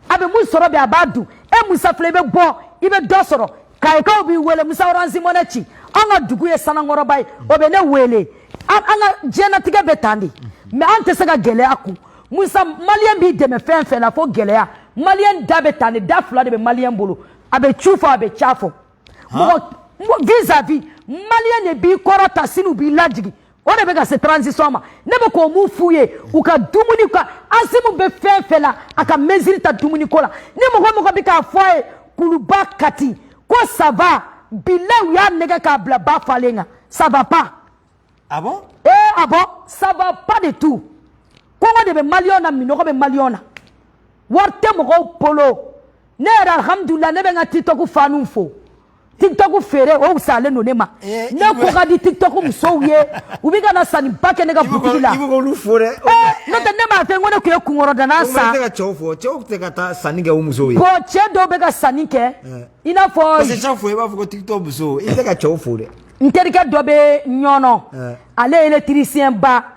a bɛ mun sɔrɔ bi a b'a dun e musa filɛ i bɛ bɔ i bɛ dɔ sɔrɔ kayikaw b'i wele musa orange money ci an ka dugu ye sanankɔrɔba ye o bɛ ne wele an ka diɲɛnatigɛ bɛ tan de mais an tɛ se ka gɛlɛya kun musa maliyɛn b'i dɛmɛ fɛn fɛn na fo gɛlɛya maliyɛn da bɛ tan de da fila de bɛ maliyɛn bolo a bɛ cu fɔ a bɛ ca fɔ mɔgɔ vis-à-vis maliyɛn de b'i kɔrɔta sini u b'i lajigin o de bɛ ka se transition ma ne bɛ k'o mun f'u ye u ka dumuni ka asimi bɛ fɛn fɛn la a ka mesure ta dumuni ko la ni mɔgɔ mɔgɔ bɛ k'a fɔ a ye kuluba kati ko ça va bilayi u y'a nɛgɛn k'a bila ba falen kan ça va pas ah bon ee eh, ah bon ça va pas du tout kɔngɔ de bɛ maliyɛnw na minɔgɔ bɛ maliyɛnw na wari tɛ mɔgɔw bolo ne yɛrɛ alihamudulila ne bɛ n ka tiktok faniw fo tiktok feere o fisalen don ne ma eh, ne ko ka di tiktok musow ye u bɛ ka na sanniba kɛ ne ka butigi la n'o tɛ ne m'a fɛ n ko ne tun ye kunkɔrɔ danna san cɛ dɔw bɛ ka sanni kɛ eh. i n'a fɔ parce que chaque fois i b'a fɔ ko tiktok musow i tɛ ka cɛw fo dɛ n terikɛ dɔ bɛ ɲɔnɔ eh. ale ye électricien ba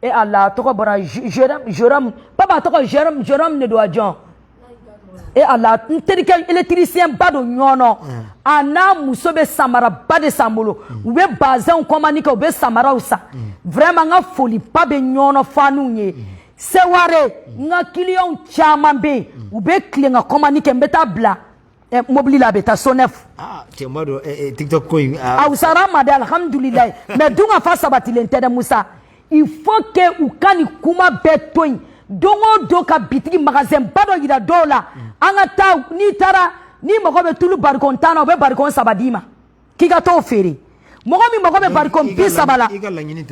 e ala tɔgɔ bɔra joram joram papa tɔgɔ joram joram de don a jɔn e ala n terikɛ électricien ba don ɲɔnɔ mm. a n'a muso bɛ samara ba de san n bolo mm. u bɛ bazɛnw kɔmandi kɛ u bɛ samaraw san mm. vraiment n ka foliba bɛ ɲɔnɔ faniw ye seware n ka kiliyanw caman bɛ yen u bɛ tilen ka kɔmandi kɛ n bɛ taa bila Eh, mobili la a bɛ taa sonɛfu ah, cɛ n b'a dɔn eh, eh, tiktok ko in ah. a wusara ma de alihamudulilayi mais dunkafa sabatilen tɛ dɛ musa il faut que u ka nin kuma bɛɛ to yen don o don ka bitigi magasin ba dɔ yira dɔw la mm. an ka taa n'i taara n'i mago bɛ tulu barikɔn tan na u bɛ barikɔn saba d'i ma k'i ka t'o feere mɔgɔ min mago bɛ barikɔn bi saba la laɲini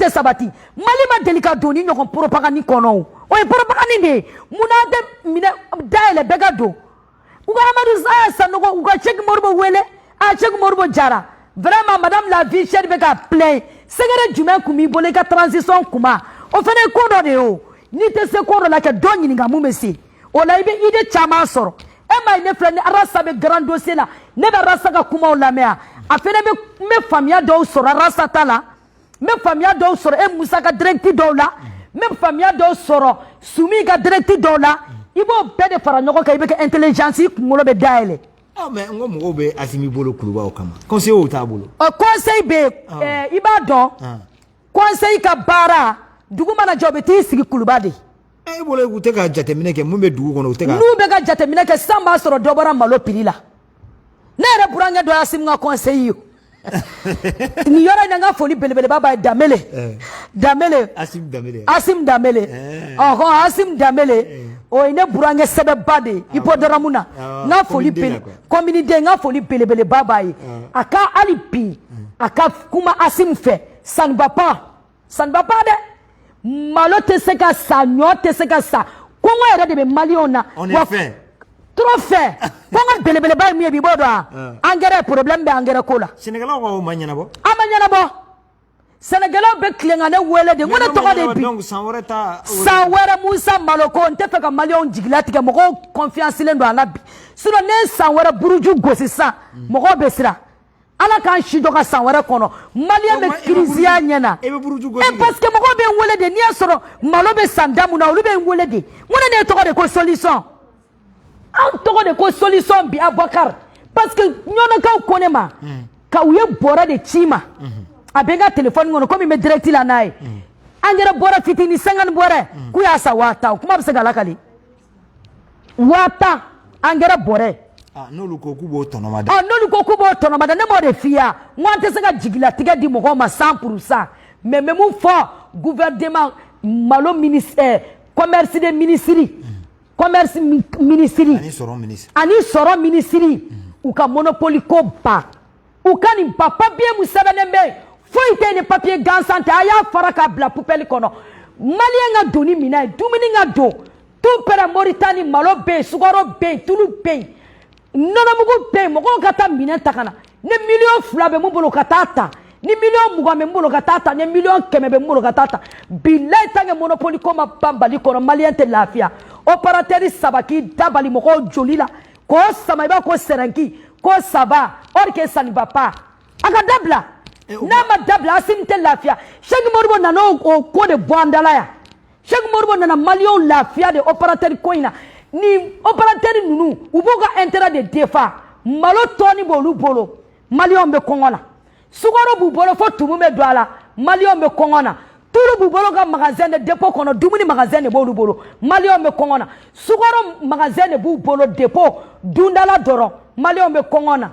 tɛ sabati mali ma deli ka don nin ɲɔgɔn poropagani kɔnɔ o ye poropagani de ye mun na an tɛ minɛ dayɛlɛ bɛɛ ka don u ka amadu haya sanɔgɔ u ka sɛki modibo wele a sɛki modibo jara vraiment madame la vie chère bɛ ka plan secret jumɛn kun b'i bolo i ka transition kuma o fana ye ko dɔ de ye o n'i tɛ se ko dɔ la kɛ dɔ ɲininka mun bɛ se o la i bɛ idée caman sɔrɔ e m'a ye ne filɛ nin arasa bɛ grand dossier la ne bɛ arasa ka kumaw lamɛn a a fana bɛ n bɛ faamuya dɔw sɔrɔ arasa ta la n bɛ faamuya dɔw sɔrɔ e musa ka dɛrɛkiti dɔw la n bɛ faamuya dɔw sɔrɔ sumi ka dɛrɛkiti dɔw la i b'o bɛɛ de fara ɲɔgɔn kan i bɛ kɛ intelligence i kunkolo bɛ dayɛlɛ Ah, mais n ko mɔgɔw bɛ asimi bolo kuluba o kama conseillerw t'a bolo ɔ conseil bɛ yen ah. eh, i b'a dɔn ah. conseil ka baara dugu mana jɛ o bɛ t'i sigi kuluba de e bolo u tɛ ka jateminɛ kɛ mun bɛ dugu kɔnɔ u tɛ ka n'u bɛ ka jateminɛ kɛ sisan b'a sɔrɔ dɔ bɔra malo piri la ne yɛrɛ burankɛ dɔ ye asim ka conseil ye nin yɔrɔ in na n ka foli belebeleba b'a ye danbele eh. danbele asim danbele asim danbele eh. ɔhɔn asim danbele eh. o ye ne burankɛ sɛbɛnba de ye ah, ipɔdɔrɔmu na ah, n ka foli bele kɔmini den n ka foli belebeleba b'a ye ah. a ka hali bi a ka kuma asim fɛ ça ne va pas ça ne va pas de malo tɛ se ka san ɲɔ tɛ se ka san kɔngɔ yɛrɛ de bɛ maliyɛnw na on a trop faim kɔngɔ belebeleba ye min ye bi i b'o dɔn wa angɛrɛ problème bɛ angɛrɛ ko la sɛnɛkɛlaw ka ko ma ɲɛnabɔ a ma ɲɛnabɔ sɛnɛkɛlaw bɛ tilen ka ne wele de n ko ne tɔgɔ de bi san wɛrɛ ta san wɛrɛ musa maloko n tɛ fɛ ka maliyɛnw jigilatigɛ mɔgɔw confiancelen don a la bi sinon ne ye san wɛrɛ buruju gosi sisan mɔgɔw bɛ siran ala k'an si dɔ ka san wɛrɛ kɔnɔ maliyɛn bɛ kirisi y'a ɲɛ na e paseke mɔgɔw bɛ n wele de n'i y'a sɔrɔ malo bɛ san da mun na olu bɛ n wele de n ko ne de tɔgɔ de ko solisɔn an tɔgɔ de ko solisɔn bi abubakari paseke ɲɔnɔkaw ko ne ma hmm. ka u ye bɔrɛ de ci ma hmm. a bɛ n ka telefɔni kɔnɔ komi n bɛ dirɛti la n'a ye hmm. angɛrɛ bɔrɛ fitini cinquante bɔrɛ k'u y'a san waa tan o kuma bɛ se ka lakali waa tan angɛrɛ bɔrɛ ah, n'olu ko k'u b'o tɔnɔma dɛ ne b'o de f'i ye n ko an tɛ se ka jigilatigɛ di mɔgɔw ma cent pour cent mais n bɛ mun fɔ gouvernement malo ministre eh, commerce de ministre commerce ministre ani sɔrɔ ministre ani sɔrɔ ministre u ka monopole ko ban u ka nin ba papiye mun sɛbɛnnen bɛ yen foyi tɛ ni papiye gansan tɛ a y'a fara k'a bila pupɛli kɔnɔ maliyɛn ka don ni minɛn ye dumuni ka don tu pɛrɛ moritani malo bɛ yen sukaro bɛ yen tulu bɛ yen nɔnɔmugu bɛ yen mɔgɔw ka taa minɛn ta ka na ni miliyɔn fila bɛ mun bolo ka taa ta ni miliyɔn mugan bɛ mun bolo ka taa ta ni miliyɔn kɛmɛ bɛ mun bolo ka taa ta bilayi tanke monopoli ko ma ban mali kɔnɔ maliyɛn tɛ lafiya operatɛri saba k'i da bali mɔgɔw joli la k'o sama i b'a ko sɛrɛnki ko ça va or que ça ne va pas a ka dabila eh, n'a ma dabila asimi tɛ lafiya sɛki modibo nana o ko de bɔ an da la yan sɛki modibo nana maliyɛnw lafiya de opérateur ko in na nin opérateur ninnu u b'u ka intérêt de défend malo tɔni b'olu bolo maliyɛnw bɛ kɔngɔ la sukaro b'u bolo fo tumu bɛ don a la maliyɔn bɛ kɔngɔ na tulu b'u bolo ka magasin de depo kɔnɔ dumuni magasin de b'olu bolo maliyɔn bɛ kɔngɔ na sukaro magasin de b'u bolo depo dundala dɔrɔn maliyɔn bɛ kɔngɔ na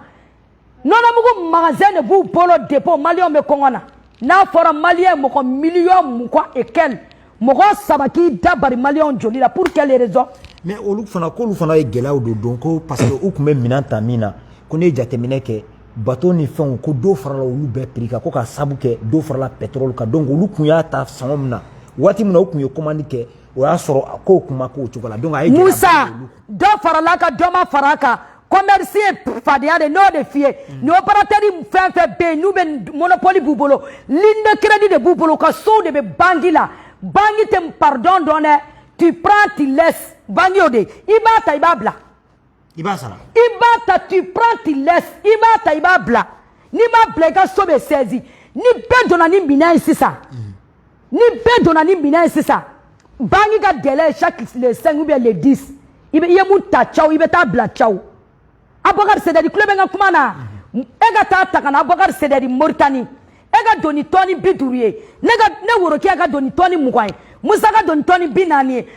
nɔnɔmugu magasin de b'u bolo depo maliyɔn bɛ kɔngɔ na n'a fɔra maliyɛn mɔgɔ miliyɔn mugan et quelques mɔgɔ saba k'i da bari maliyɛnw joli la pour quelle raison mais olu fana k'olu fana ye gɛlɛyaw dɔn donc parce que u tun bɛ minɛn ta min na ko n'i ye jateminɛ kɛ bato ni fɛnw ko dɔ farala olu bɛɛ piri kan ko ka sabu kɛ dɔ farala pɛtrɔli kan donc olu tun y'a ta sɔngɔ min na waati min na u tun ye komandi kɛ o y'a sɔrɔ k'o tun ma k'o cogo la donc a ye musa dɔ farala kan dɔ ma fara kan commerce ye fadenya de n'o de fiyɛ mm. ni opérateur fɛn fɛn bɛ yen n'u bɛ monopole b'u bolo ligne de crédit de b'u bolo ka sow de bɛ banque la banque tɛ pardon dɔn dɛ tu prends tu laisses banque y'o de ye i b'a ta i b'a bila i b'a sara i b'a ta tu prends tu laisses i b'a ta i b'a bila n'i m'a bila i ka so bɛ sɛzi ni bɛɛ donna ni minɛn ye sisan mm. ni bɛɛ donna ni minɛn ye sisan banki ka dɛlɛ ye chaque le 5 ou bien le 10 i bɛ i ye mun ta caw i bɛ taa bila caw abubakari sedɛdi tulo bɛ n ka kuma na e ka taa ta ka na abubakari sedɛdi moritani e ka doni tɔni bi duuru ye ne ka ne worokiya ka doni tɔni mugan ye musa ka doni tɔni bi naani ye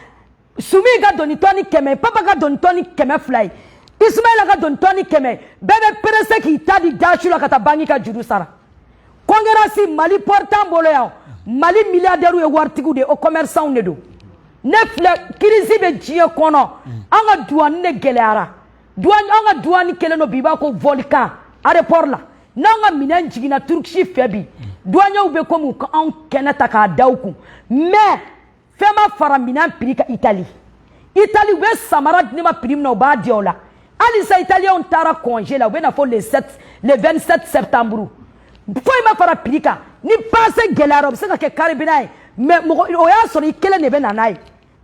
sumu ka doni tɔni kɛmɛ papa ka doni tɔni kɛmɛ fila ye ismaila ka doni tɔni kɛmɛ bɛɛ bɛ perese k'i ta di dasu la ka taa bangi ka juru sara kɔngerasi mali pɔri t'an bolo yan mali miliyadɛriw ye waritigiw de ye o kɔmɛrisanw de don ne filɛ kirisi bɛ diɲɛ kɔnɔ an ka duwani de gɛlɛyara duwani an ka duwani kelen don bi i b'a ko vɔlikan arepɔri la n'an ka minɛn jiginna turukisi fɛ bi duwanyew bɛ komi u ka anw kɛnɛ ta k'a da u kun mɛ fɛn ma fara minan piri kan itali itali u bɛ samara di ne ma piri min na u b'a di aw la halisa italiyɛnw taara kɔnze la u bɛ na fo le 27 septembre foyi ma fara piri kan ni paase gɛlɛyara o bɛ se ka kɛ karibiran ye mɛ mɔgɔ o y'a sɔrɔ i kelen de bɛ na n'a ye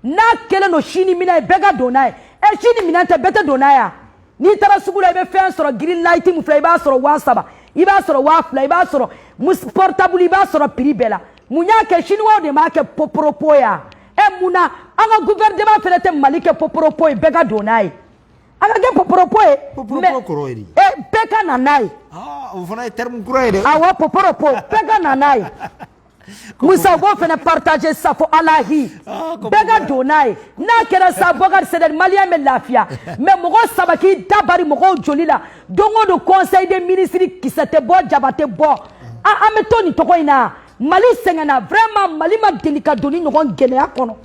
n'a kɛlen don sini minɛn ye bɛɛ ka don n'a ye ɛ sini minɛn tɛ bɛɛ tɛ don n'a ye n'i taara sugu la i bɛ fɛn sɔrɔ green light min filɛ i b'a sɔrɔ waa saba i b'a sɔrɔ waa fila i b'a sɔrɔ portable i b'a sɔrɔ prix bɛɛ la mun y'a kɛ chinois de m'a kɛ poporopo ya ɛ e, mun na an ka gouvernement fana tɛ mali kɛ poporopo ye bɛɛ ka don n'a ye a ka kɛ poporopo ye poporopo kɔrɔ ye di ɛ e, bɛɛ ka na n'a ye ah, o fana ye terme kura ye dɛ awɔ poporopo bɛɛ ka na n'a ye Musa k'o fana partage sa fo alahi ah, bɛɛ ka don n'a ye n'a kɛra sa Bokari Sɛdɛni maliyɛn bɛ lafiya mais mɔgɔ saba k'i da bari mɔgɔw joli la don o don conseil des ministres kisɛ tɛ bɔ jaba tɛ bɔ ah, an bɛ to nin cogo in na Mali sɛgɛnna vraiment Mali ma deli ka don nin ɲɔgɔn gɛlɛya kɔnɔ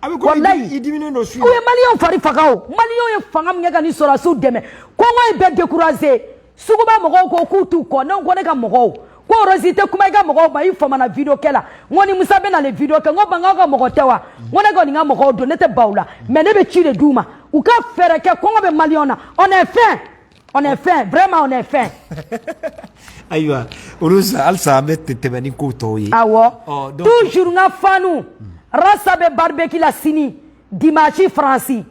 a bɛ komi i diminen don su in na. o ye maliyɛnw fari faga o maliyɛnw ye fanga min kɛ ka nin sɔrɔdasiw dɛmɛ kɔngɔ ye bɛɛ décourager suguba mɔgɔw ko k'u t'u kɔ ne ko ne ka mɔgɔw ko Rose i tɛ kuma i ka mɔgɔw ma i famana video kɛ la n ko ni Musa bɛ nalen video kɛ n ko ban k'aw ka mɔgɔ tɛ wa n ko ne kɔni ka mɔgɔw don ne tɛ ban u la mais ne bɛ ci de d'u ma u ka fɛɛrɛ kɛ kɔngɔ bɛ maliyɛnw na on est faim on est faim vraiment on est faim ayiwa Rose halisa an bɛ tɛmɛ ni kow tɔw ye awɔ Ɔ, donc- toujours n ka fanw rasa bɛ barbecue la sini dimanche faransi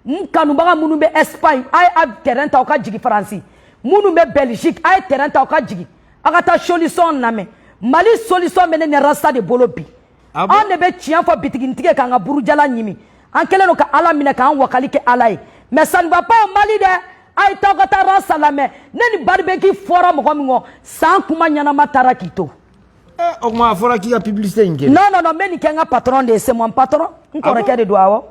n kanubaga minnu bɛ espagne a ye a train ta aw ka jigin faransi minnu bɛ belgique a ye train ta aw ka jigin a ka taa solution lamɛn mali solution bɛ ne ni rasa de bolo bi Ah an de bɛ tiɲɛ fɔ bitigitigi k'an ka buru jalan ɲimi an kɛlen don ka ala minɛ k'an wakali kɛ ala ye mais ça ne va pas au mali dɛ a ye taa aw ka taa rasa lamɛn ne ni barbecue fɔra mɔgɔ min kɔ san kuma ɲɛnama taara k'i to eh, o tuma a fɔra k'i ka publicité in kɛ non non n bɛ nin kɛ n ka patron de ye c'est mon patron n kɔrɔkɛ de don awɔ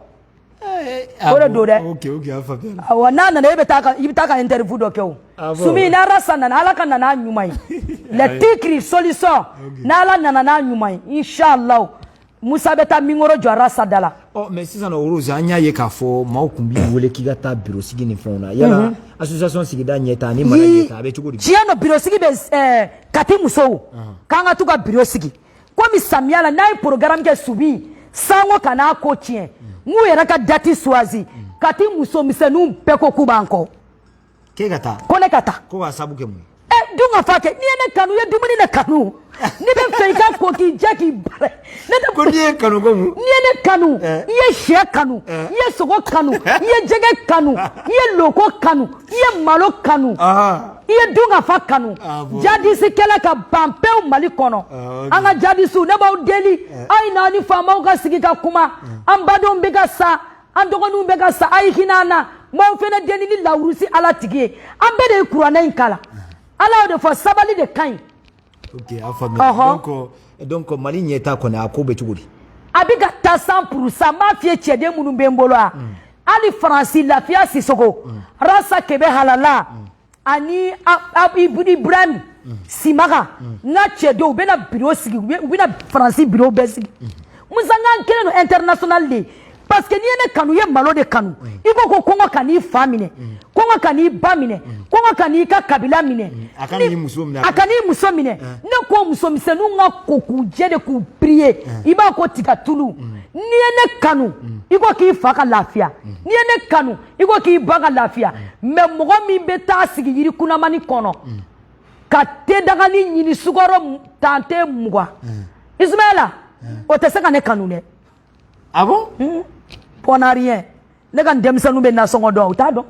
o de don dɛ wa n'a nana e bɛ taa i bɛ taa ka interview dɔ kɛ o sumi ni rasa nana ala ka na n'a ɲuman ye la tikiri solution n'ala nana n'a ɲuman ye inshallah Musa bɛ taa micro jɔ rasa da la ɔ mais sisan nɔ Rose an y'a ye k'a fɔ maaw tun b'i wele k'i ka taa bureau sigi ni fɛnw na yala association sigida ɲɛtaa ni mara ɲɛtaa a bɛ cogo di tiɲɛ don bureau sigi bɛ Kati musow k'an ka t'u ka bureau sigi komi samiya la n'a ye porogaramu kɛ subi sanko kana ko tiɲɛ n k'u yɛrɛ ka date choisir Kati muso misɛnninw bɛɛ ko k'u b'an kɔ k'e ka taa ko ne ka taa ko k'a sabu kɛ mun ye ɛ dun ka fa kɛ n'i ye ne kanu i ye dumuni de kanu n'i b'a fɛ i ka ko k'i jɛ k'i pari ne tɛ ko n'i ye kanu ko mun n'i ye ne kanu i ye shɛ kanu i ye sogo kanu i ye jɛgɛ kanu i ye loko kanu i ye malo kanu i ye dun ka fa kanu ah, jadisi kɛlɛ ka ban pewu mali kɔnɔ ah, an ka jadisiw ne b'aw deli eh. a ye na a ni faamaw ka sigi ka kuma hmm. an badenw bɛ ka sa an dɔgɔninw bɛ ka sa a ye hinɛ an na n b'aw fana deli ni lawurusi ala tigi ye an bɛɛ de ye kuranɛ in kalan hmm. ala y'o de fɔ sabali de ka ɲi ok a faamuya donc euh, donc mali ɲɛta kɔni a ko bɛ cogo di a bɛ ka taa cent pour cent n b'a f'i ye cɛden minnu bɛ n bolo a hmm. hali faransi lafiya sisoko hmm. rasa kebe halala hmm. ani ibrahim simaga n ka cɛdenw u bɛna biro sigi u bɛna faransi biro bɛɛ sigi musa n k'an kelen don international de ye parce que n'i ye ne kanu i ye malo de kanu i ko ko kɔngɔ kan'i fa minɛ kɔngɔ kan'i ba minɛ kɔngɔ kan'i ka kabila minɛ a kan'i muso minɛ ne ko musomisɛnninw ka ko k'u jɛ de k'u briller i b'a ko tiga tulu n'i ye ne kanu i ko k'i fa ka lafiya n'i ye ne kanu i ko k'i ba ka lafiya mais mɔgɔ min bɛ taa sigi yiri kunnamani kɔnɔ ka te daganin ɲini sukaro tan te mugan ismaɛla o tɛ se ka ne kanu dɛ ah bon bon à rien ne ka denmisɛnninw bɛ nasɔngɔ dɔn u t'a dɔn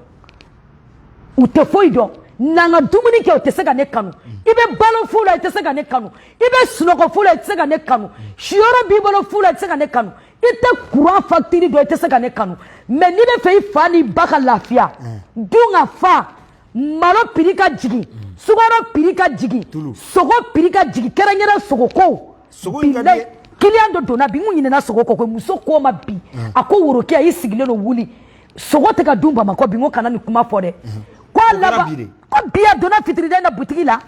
u tɛ foyi dɔn n'an ka dumuni kɛ u tɛ se ka ne kanu i bɛ balo fu la i tɛ se ka ne kanu i bɛ sunɔgɔ fu la i tɛ se ka ne kanu siyɔrɔ b'i bolo fu la i tɛ se ka ne kanu i tɛ kuran fakitiri dɔn i tɛ se ka ne kanu mais n'i b'a fɛ i fa n'i ba ka lafiya dun ka fa malo prix ka jigin sukaro prix ka jigin sogo prix ka jigin kɛrɛnkɛrɛn sogoko sogo in ka di kiliyan dɔ donna bi n ɲinɛna sogo kɔ koyi muso ko n ma bi a ko worokiya i sigilen don wuli sogo tɛ ka dun bamakɔ bi n ko kana nin kuma fɔ dɛ ko a laban ko bi a donna fitirida la butigi la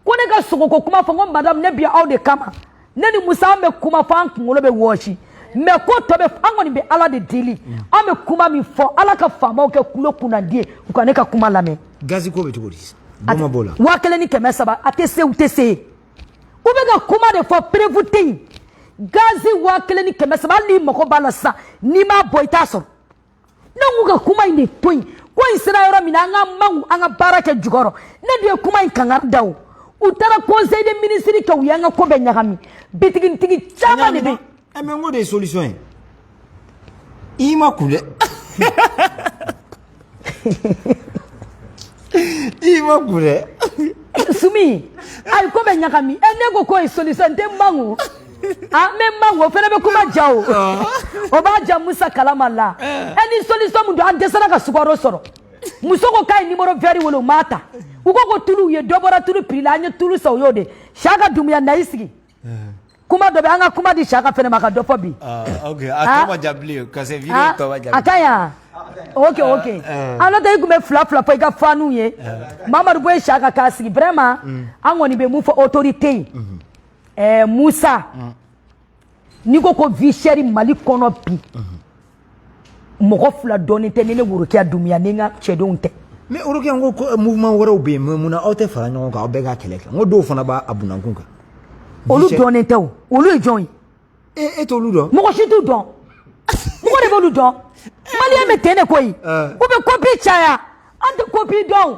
ko ne ka sogoko kuma fɔ n ko madame ne bɛ yan aw de kama ne ni musa an bɛ kuma fo an kunkolo bɛ wɔsi mais ko tɔ bɛɛ an kɔni bɛ ala de deli an bɛ kuma min fɔ ala ka faamaw kɛ kulo kunnandi ye u ka ne ka kuma lamɛn gazi ko bɛ cogo di dɔ ma bɔ a la waa kelen ni kɛmɛ saba a tɛ se u tɛ se u bɛ ka kuma de fɔ preuve tɛ yen gazi waa kelen ni kɛmɛ saba hali n'i mago b'a la sisan n'i m'a bɔ i t'a sɔrɔ ne k'u ka kuma in de to yen ko in sera yɔrɔ min na an ka makun an ka baara kɛ jukɔrɔ ne dun ye kuma in kangari da o u taara conseil des ministres kɛ u y'an ka ko bɛɛ ɲagami bitigitigi caman de bɛ yen. ɛɛ makun de ye solution ye. I makun dɛ. I makun dɛ. Sumi, a ye ko bɛɛ ɲagami. Ɛ ne ko k'o ye solution tɛ n makun. A n bɛ n makun o fana bɛ kuma ja o. O b'a ja Musa kalama la. Ɛ ni solution mun don an dɛsɛra ka sukaro sɔrɔ. Muso ko k'a ye numéro vert wele u m'a ta. U ko ko tulu ye dɔ bɔra tulu prix la an ye tulu san u y'o de. Siyaka Dunbuya na i sigi. kuma dɔ bɛ an ka kuma di siyaka fana ma ka dɔ fɔ bi ah, ah? a ka yan ok ah, ok eh. an tɛ i tun bɛ fila fila fɔ i ka fanw ye eh. mamadu bɔ yen siyaka ka sigi vraiment mm. an kɔni bɛ min fɔ autorité ye mm-hmm. eh, musa mm. n'i ko ko vie chère mali kɔnɔ bi mm-hmm. mɔgɔ fila dɔnnen tɛ ni ne worokiya dumiya ni n ka cɛdenw tɛ mais worokiya n ko eh, mouvement wɛrɛw bɛ yen mun na aw tɛ fara ɲɔgɔn kan aw bɛɛ ka kɛlɛ kɛ n ko dɔw fana b'a a bunankun kan olu dɔnnen tɛ o olu ye jɔn ye e t'olu dɔn mɔgɔ si t'u dɔn mɔgɔ de b'olu dɔn maliyɛn bɛ ten de koyi u bɛ kopi caya an tɛ kopi dɔn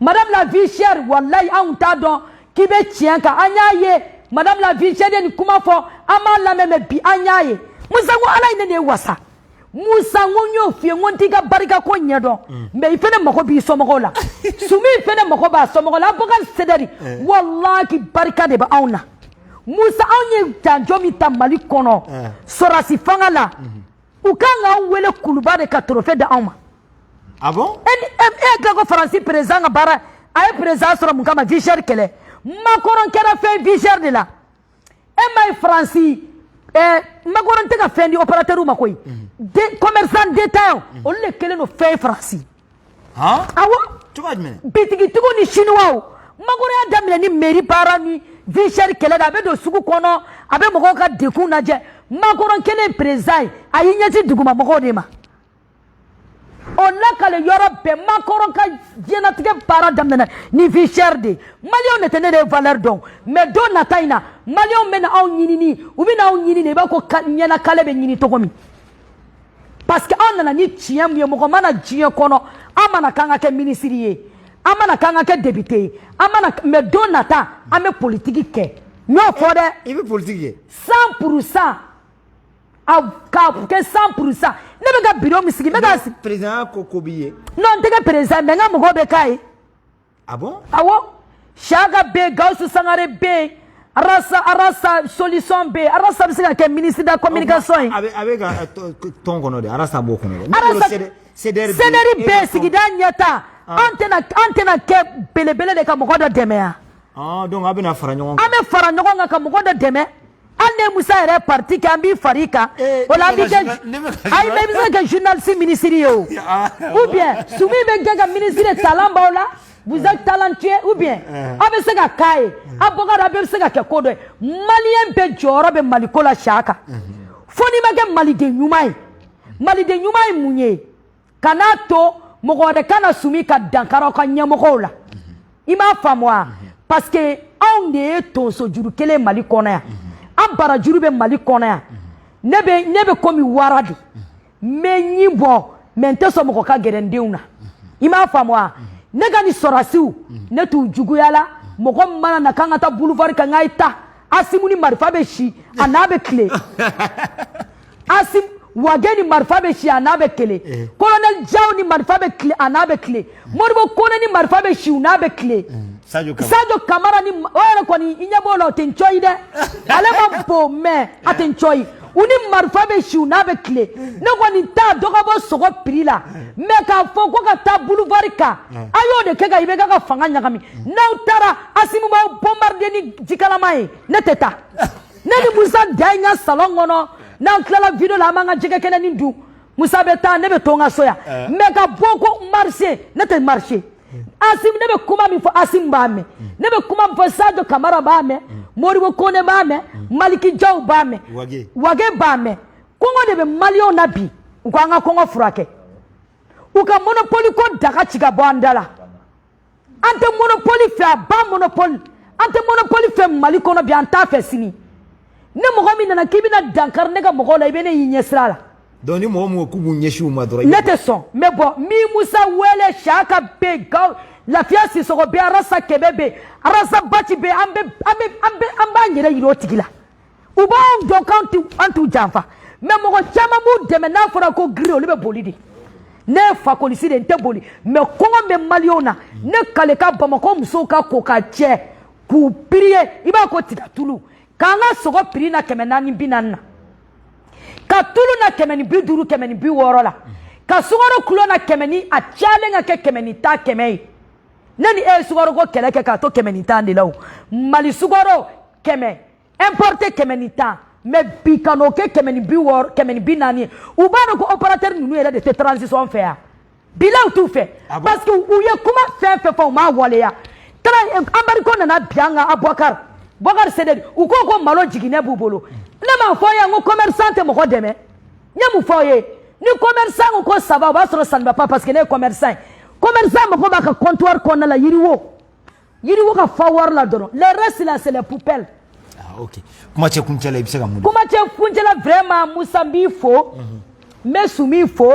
madame la vie chère walayi anw t'a dɔn k'i bɛ tiɲɛ kan an y'a ye madame la vie chère ye nin kuma fɔ an m'a lamɛn mais bi an y'a ye musa o ala ye ne de wasa musa o n y'o f'i ye n ko n t'i ka barika ko ɲɛ dɔn mais i fɛnɛ mago b'i somɔgɔw la sumi fɛnɛ mago b'a somɔgɔw la abubakari CDR walahi barika de bɛ anw na musa anw ye janjo min ta mali kɔnɔ sɔrasi fanga la u kan k'an wele kuluba de ka trophée di anw ma a e ko faransi président ka baara a ye président sɔrɔ mun kama vie chère kɛlɛ makɔrɔn kɛra fɛn vie chère de la e m'a ye faransi makɔrɔn tɛ ka fɛn di opérateurs ma koyi commerçants détaillants olu de kɛlen don fɛn faransi a bitigitigiw ni chinois makɔrɔn y'a daminɛ ni mairie baara ni vie chère kɛlɛ a bɛ don sugu kɔnɔ a bɛ mɔgɔw ka degun lajɛ makɔrɔn kɛlen président ye a y'i ɲɛsin duguma mɔgɔw de ma o lakale yɔrɔ bɛɛ makɔrɔn ka diɲɛnatigɛ baara daminɛna ni vie chère de ye maliyɛnw de tɛ ne de valeur dɔn mais don nata in na maliyɛnw bɛna aw ɲinini u bɛna aw ɲini de i b'a ko ɲɛnakale bɛ ɲini cogo min parce que anw nana ni tiɲɛ min ye mɔgɔ ma na diɲɛ kɔnɔ an ma na k'an ka kɛ minisiri ye an ma na k'an ka kɛ depite ye an ma na mais don nata an bɛ politiki kɛ n y'o fɔ dɛ i bɛ politiki kɛ 100 pour 100 aw k'a kɛ 100 pour 100 ne bɛ ka bureau min sigi ne ka sigi. président ko ko b'i ye. non n tɛ kɛ président mais n ka mɔgɔw bɛ k'a ye. ah bon. awɔ siyaka bɛ yen gawusu sangare bɛ yen arasa arasa solution bɛ yen arasa bɛ se ka kɛ ministre de la communication ye. a bɛ a b'aw ka tɔn kɔnɔ de arasa b'o kɔnɔ dɛ. arasa CDR bɛ yen sigida ɲɛtaa an tɛna an tɛna kɛ belebele de ka mɔgɔ dɔ dɛmɛ yan. ah donc aw bɛna fara ɲɔgɔn kan. an bɛ fara ɲɔgɔn kan ka mɔgɔ dɔ dɛmɛ. hali n'e musa yɛrɛ parti kɛ an bɛ far'i kan eh, o la an b'i kɛ ayi mais i bɛ se ka kɛ journaliste minisiri ye o ah, ou bien sumi bɛ kɛ ka minisiri talent b'aw la vous êtes talentueux ou bien eh. aw bɛ se ka k'a ye abubakari aw bɛɛ bɛ se ka kɛ ko dɔ ye maliyɛn bɛɛ jɔyɔrɔ bɛ maliko la siyaka mhm. fo n'i ma kɛ maliden ɲuman ye maliden ɲuman ye mun ye. kan'a to mɔgɔ wɛrɛ kana sumi ka dankari i ka ɲɛmɔgɔw la i m'a faamu wa parce que anw de ye tonso juru kelen mali kɔnɔ yan an barajuru bɛ mali kɔnɔ yan ne bɛ ne bɛ komi wara de n bɛ ɲin bɔ mais n tɛ sɔn mɔgɔ ka gɛrɛ n denw na i m'a faamu wa ne ka nin sɔrɔdasiw ne t'u juguya la mɔgɔ min mana na k'an ka taa boulevard kan n k'a ye taa asimi ni marifa bɛ si a n'a bɛ tilen asim wage ni marifa bɛ si a n'a bɛ kile eh. kolonɛli jaw ni marifa bɛ kile a n'a bɛ kile moribo kone ni marifa bɛ si u n'a bɛ kile eh, sajo kamara ni o yɛrɛ kɔni i ɲɛ b'o la o tɛ n cɔyi dɛ ale ma bon mais a tɛ n cɔyi u ni marifa bɛ si u n'a bɛ kile ne kɔni ta dɔ ka bɔ sogo prix la mais k'a fɔ ko ka taa boulevard kan a y'o de kɛ ka ibk ka fanga ɲagami n'aw taara asimu b'aw bombarder ni jikalama ye ne tɛ taa ne ni musa dalen n ka salon kɔnɔ n'an tilala video la an b'an ka jɛgɛ kɛnɛnin dun musa bɛ taa ne bɛ to n ka so yan eh. mais ka bɔ ko marcher ne tɛ marcher asim ne bɛ kuma min fɔ asim b'a mɛn ne bɛ kuma min fɔ sadio kamara b'a mɛn moribo kone b'a mɛn maliki jaw b'a mɛn wage b'a mɛn kɔngɔ de bɛ maliyɛnw na bi u k'an ka kɔngɔ furakɛ u ka monopoli ko daga ci ka bɔ an da la an tɛ monopoli fɛ à bas monopoli an tɛ monopoli fɛ mali kɔnɔ bi an t'a fɛ sini ne mɔgɔ min nana k'i bɛna dankari ne ka mɔgɔw la i bɛ ne y'i ɲɛsira la donc ni mɔgɔ mɔgɔ k'u b'u ɲɛsin u ma dɔrɔn ne tɛ sɔn mais bon n bi musa wele siyaka bɛ gaw lafiya sisɔgɔ bɛ arasa kebe bɛ arasa baci bɛ an bɛ an bɛ an bɛ an b'an yɛrɛ yira o tigi la u b'a dɔn k'an t'u an t'u janfa mais mɔgɔ caman b'u dɛmɛ n'a fɔra ko giri olu bɛ boli de ne ye fakolisi de n tɛ boli mais kɔngɔ bɛ maliyenw na ne kale ka bamakɔ musow ka ko ka jɛ k'u prier i b'a ko tiga tulu k'an ka sogo prix na kɛmɛ naani bi naani na ka tulu na kɛmɛ ni bi duuru kɛmɛ ni bi wɔɔrɔ la ka sukaro kilo na kɛmɛ ni a cayalen ka kɛ kɛmɛ ni tan kɛmɛ ye ne ni e ye sukaro ko kɛlɛ kɛ k'a to kɛmɛ ni tan de la o mali sukaro kɛmɛ importé kɛmɛ ni tan mais bi ka n'o kɛ kɛmɛ ni bi wɔɔrɔ kɛmɛ ni bi naani ye u b'a dɔn ko opérateur ninnu yɛrɛ de tɛ transition fɛ yan bilaw t'u fɛ ah parce que u ye kuma fɛn fɛn fɔ u m'a waleya embargo nana bi an ka abubakari bubakari sededi u ko ko malo jiginnen b'u bolo ne m'a fɔ aw ye n ko commerçant tɛ mɔgɔ dɛmɛ n ye mun fɔ aw ye ni commerçant ko ko ça va o b'a sɔrɔ sanniba pa parce que ne ye commerçant ye commerçant mago b'a ka comptoir kɔnɔna la yiriwa yiriwa ka fa wari la dɔrɔn le reste là c'est les poubelles ah, ok kuma cɛ kuncɛ la i bɛ se ka mun kuma cɛ kuncɛ la vraiment musa n b'i fo n bɛ sumi fo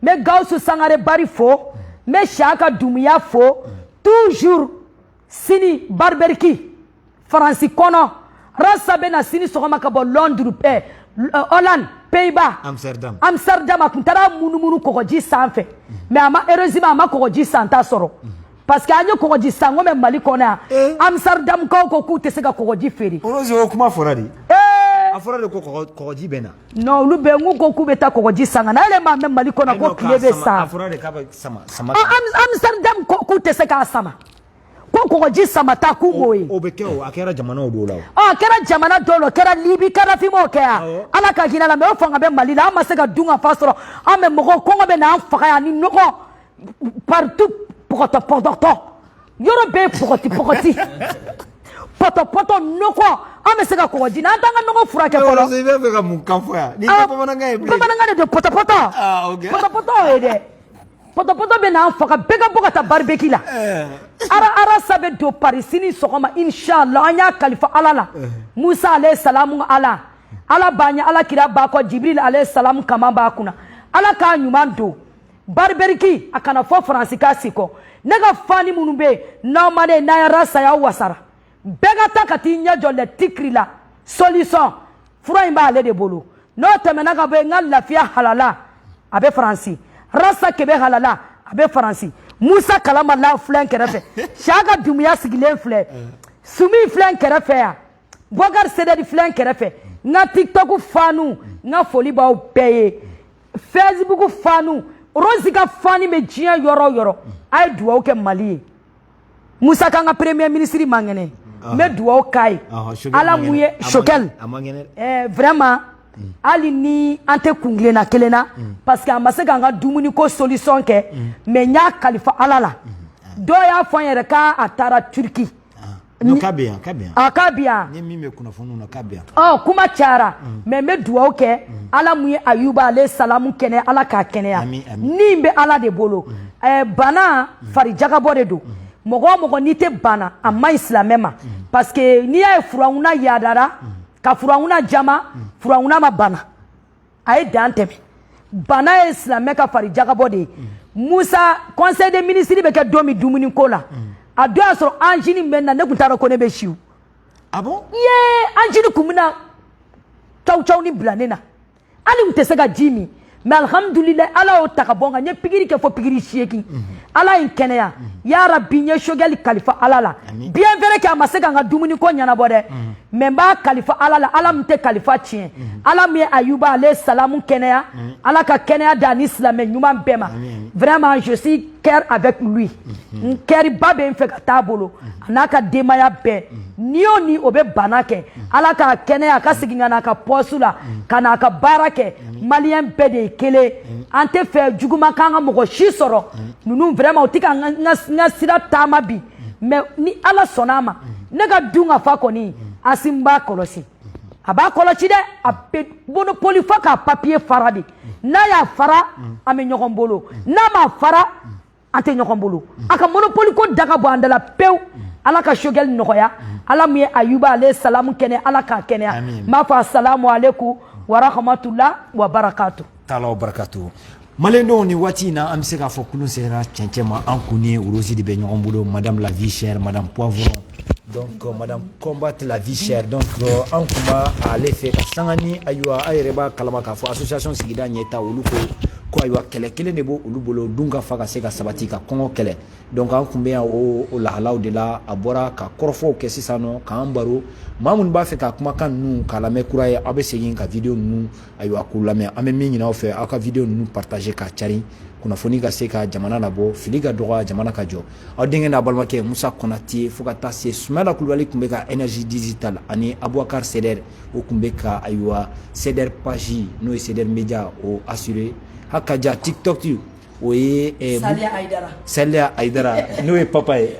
n bɛ gawusu sangare bari fo n bɛ siyaka dumuya fo toujours sini barberiki faransi kɔnɔ rasa bɛ na sini sɔgɔma ka bɔ londres bɛɛ eh, hollande pays-bas amsterdam amsterdam a tun taara munumunu kɔgɔji sanfɛ mais a ma heureusement a ma kɔgɔji santa sɔrɔ parce que an ye kɔgɔji san ko mɛn mali kɔnɔ yan eh. amsterdamkaw ko k'u tɛ se ka kɔgɔji feere o rosi o kuma fɔra de eh. a fɔra de ko kɔgɔji bɛ na non olu bɛɛ n'u ko k'u bɛ taa kɔgɔji san ka na ale m'a mɛn mali kɔnɔ ko tile bɛ sa amsterdam ko k'u tɛ se k'a sama ko kɔgɔji samata k'u m'o ye o bɛ kɛ o a kɛra jamanaw dɔw la o a kɛra jamana dɔw la o kɛra libi kadafi m'o kɛ yan ala ka hinɛ a la mais o fanga bɛ mali la an ma se ka dun ka fa sɔrɔ an bɛ mɔgɔ kɔngɔ bɛ n'an faga yan ni nɔgɔ partout pɔgɔtɔ pɔgɔtɔ yɔrɔ bɛɛ ye pɔgɔti pɔgɔti pɔtɔ pɔtɔ nɔgɔ an bɛ se ka kɔgɔji n'an t'an ka nɔgɔ furakɛ fɔlɔ. i bɛ fɛ ka mun kan fɔ yan. nin tɛ bamanankan ye bilen. bamanankan de don pɔtɔ pɔtɔ. aa ok pɔtɔ pɔtɔ y'o ye dɛ. pɔtɔ pɔtɔ bɛ n'an faga bɛɛ ka bɔ ka taa baribeki la. a rasa bɛ don pari sini sɔgɔma inshallah an y'a kalifa ala la. musa ale salamu ala. ala b'a ɲɛ ala kira b'a kɔ jibril ale salamu kaman b'a kunna ala k'a ɲuman don. barberiki a kana fɔ faransi ka si kɔ ne ka fani minnu bɛ yen n'aw ma ne na rasa ye aw sara bɛɛ ka taa ka t'i ɲɛ jɔ lɛ tikiri la solution fura in b'ale de bolo n'o tɛmɛna ka bɔ yen n ka lafiya halala a bɛ faransi rasa kebe halala a bɛ faransi musa kalama la filɛ n kɛrɛfɛ siyaka dumuya sigilen filɛ sumi filɛ n kɛrɛfɛ yan bɔkari sedɛdi filɛ n kɛrɛfɛ n ka tiktok fanu n ka foli b'aw bɛɛ ye fɛsibugu fanu rosi ka fani bɛ diɲɛ yɔrɔ o yɔrɔ a ye dugawu kɛ mali ye musa k'an ka premier minisiri man kɛnɛ ah. n bɛ dugawu k'a ye ah, ala mun ye sokɛli eh, vraiment mm. hali ni an tɛ kun kelen na kelen na mm. parce que a ma se k'an ka dumuni ko solution kɛ mm. mais n y'a kalifa ala la dɔw y'a fɔ n yɛrɛ k'a a taara turki Ni k'a bɛ yan k'a bɛ yan a k'a bɛ yan ni min bɛ kunnafoniw na k'a bɛ yan ɔ kuma cayara mm. mais n bɛ dugawu kɛ mm. ala mun ye ayuba ale salamu kɛnɛya ala k'a kɛnɛya ni bɛ ala de bolo mm. eh, bana farijagabɔ de don mɔgɔ o mɔgɔ n'i tɛ bana a man ɲi silamɛ ma parce que n'i y'a ye firawuna yadara ka firawuna jama firawuna ma bana a ye dan tɛmɛ bana ye silamɛ ka fari jagabɔ de ye musa conseil des ministres bɛ kɛ don min dumuni ko la a don y'a sɔrɔ angine bɛ n na ne tun t'a dɔn ko ne bɛ siw ah bon yee angine kun bɛna cawucawu ni bila ne na hali n tɛ se ka ji min mais alhamdulilayi ala y'o ta ka bɔ n kan n ye pikiri kɛ fo pikiri seegin ala ye n kɛnɛya ya rabi n ye sokɛli kalifa ala la bien vrai que a ma se ka n ka dumuni ko ɲɛnabɔ dɛ mais n b'a kalifa ala la ala min tɛ kalifa tiɲɛ ala min ye ayuba ale salamu kɛnɛya ala ka kɛnɛya d'an ni silamɛ ɲuman bɛɛ ma vraiment je suis cœur avec lui n cœurba bɛ n fɛ ka taa bolo a n'a ka denbaya bɛɛ ni o ni o bɛ bana kɛ ala k'a kɛnɛya a ka segin ka na a ka pɔsu la ka na a ka baara kɛ maliyɛn bɛɛ de ye kelen an t'a fɛ juguman k'an ka mɔgɔ si sɔrɔ ninnu vraiment u tɛ ka n ka sira taama bi mais ni ala sɔnna a ma ne ka dun ka fa kɔni Asimi b'a kɔlɔsi a b'a kɔlɔsi dɛ a bɛ monopole fo k'a papiye fara de n'a y'a fara an bɛ ɲɔgɔn bolo n'a m'a fara an tɛ ɲɔgɔn bolo a ka monopole ko daga bɔ an da la pewu ala ka sogɛli nɔgɔya ala min ye ayuba ale salamu kɛnɛya ala k'a kɛnɛya n b'a fɔ asalamu alekum warahamatula wa barakatu taala wa barakatu malidenw nin waati in na an bɛ se k'a fɔ kulun sera cɛncɛn ma an kun ni Rose de bɛ ɲɔgɔn bolo madame la vie chère madame poivron Donc madame combat la vie chère donc an kun bɛ ale fɛ ka sanga ni ayiwa a yɛrɛ b'a kalama k'a fɔ association sigida ɲɛtaa olu ko ko ayiwa kɛlɛ kelen de b'olu bolo dun ka fa ka se ka sabati ka kɔngɔ kɛlɛ donc an kun bɛ yan o lahalaw de la a bɔra ka kɔrɔfɔw kɛ sisan nɔ k'an baro maa minnu b'a fɛ k'a kumakan ninnu k'a lamɛn kura ye aw bɛ segin ka video ninnu Ayiwa k'u lamɛn an bɛ min ɲini aw fɛ aw ka video ninnu partager k'a carin kunnafoni ka se ka jamana labɔ fili ka dɔgɔya jamana ka jɔ aw denkɛ n'aw balimakɛ Musa Konate fo ka taa se Sumala Kulubali kun bɛ ka énergie digital ani Abubakar Seder o kun bɛ ka ayiwa Seder page n'o ye Seder media o assurer hakaja tiktok o ye eh, saliya ayidara n'o ye papa ye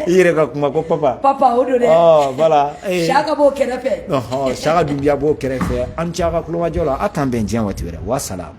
i yɛrɛ ka kuma ko papa papa o don dɛ oh, voilà eh. saka b'o kɛrɛfɛ saka dunbiya b'o kɛrɛfɛ a ni ce a ka kulomajɔ la a k'an bɛn diɲɛ waati wɛrɛ wasalamu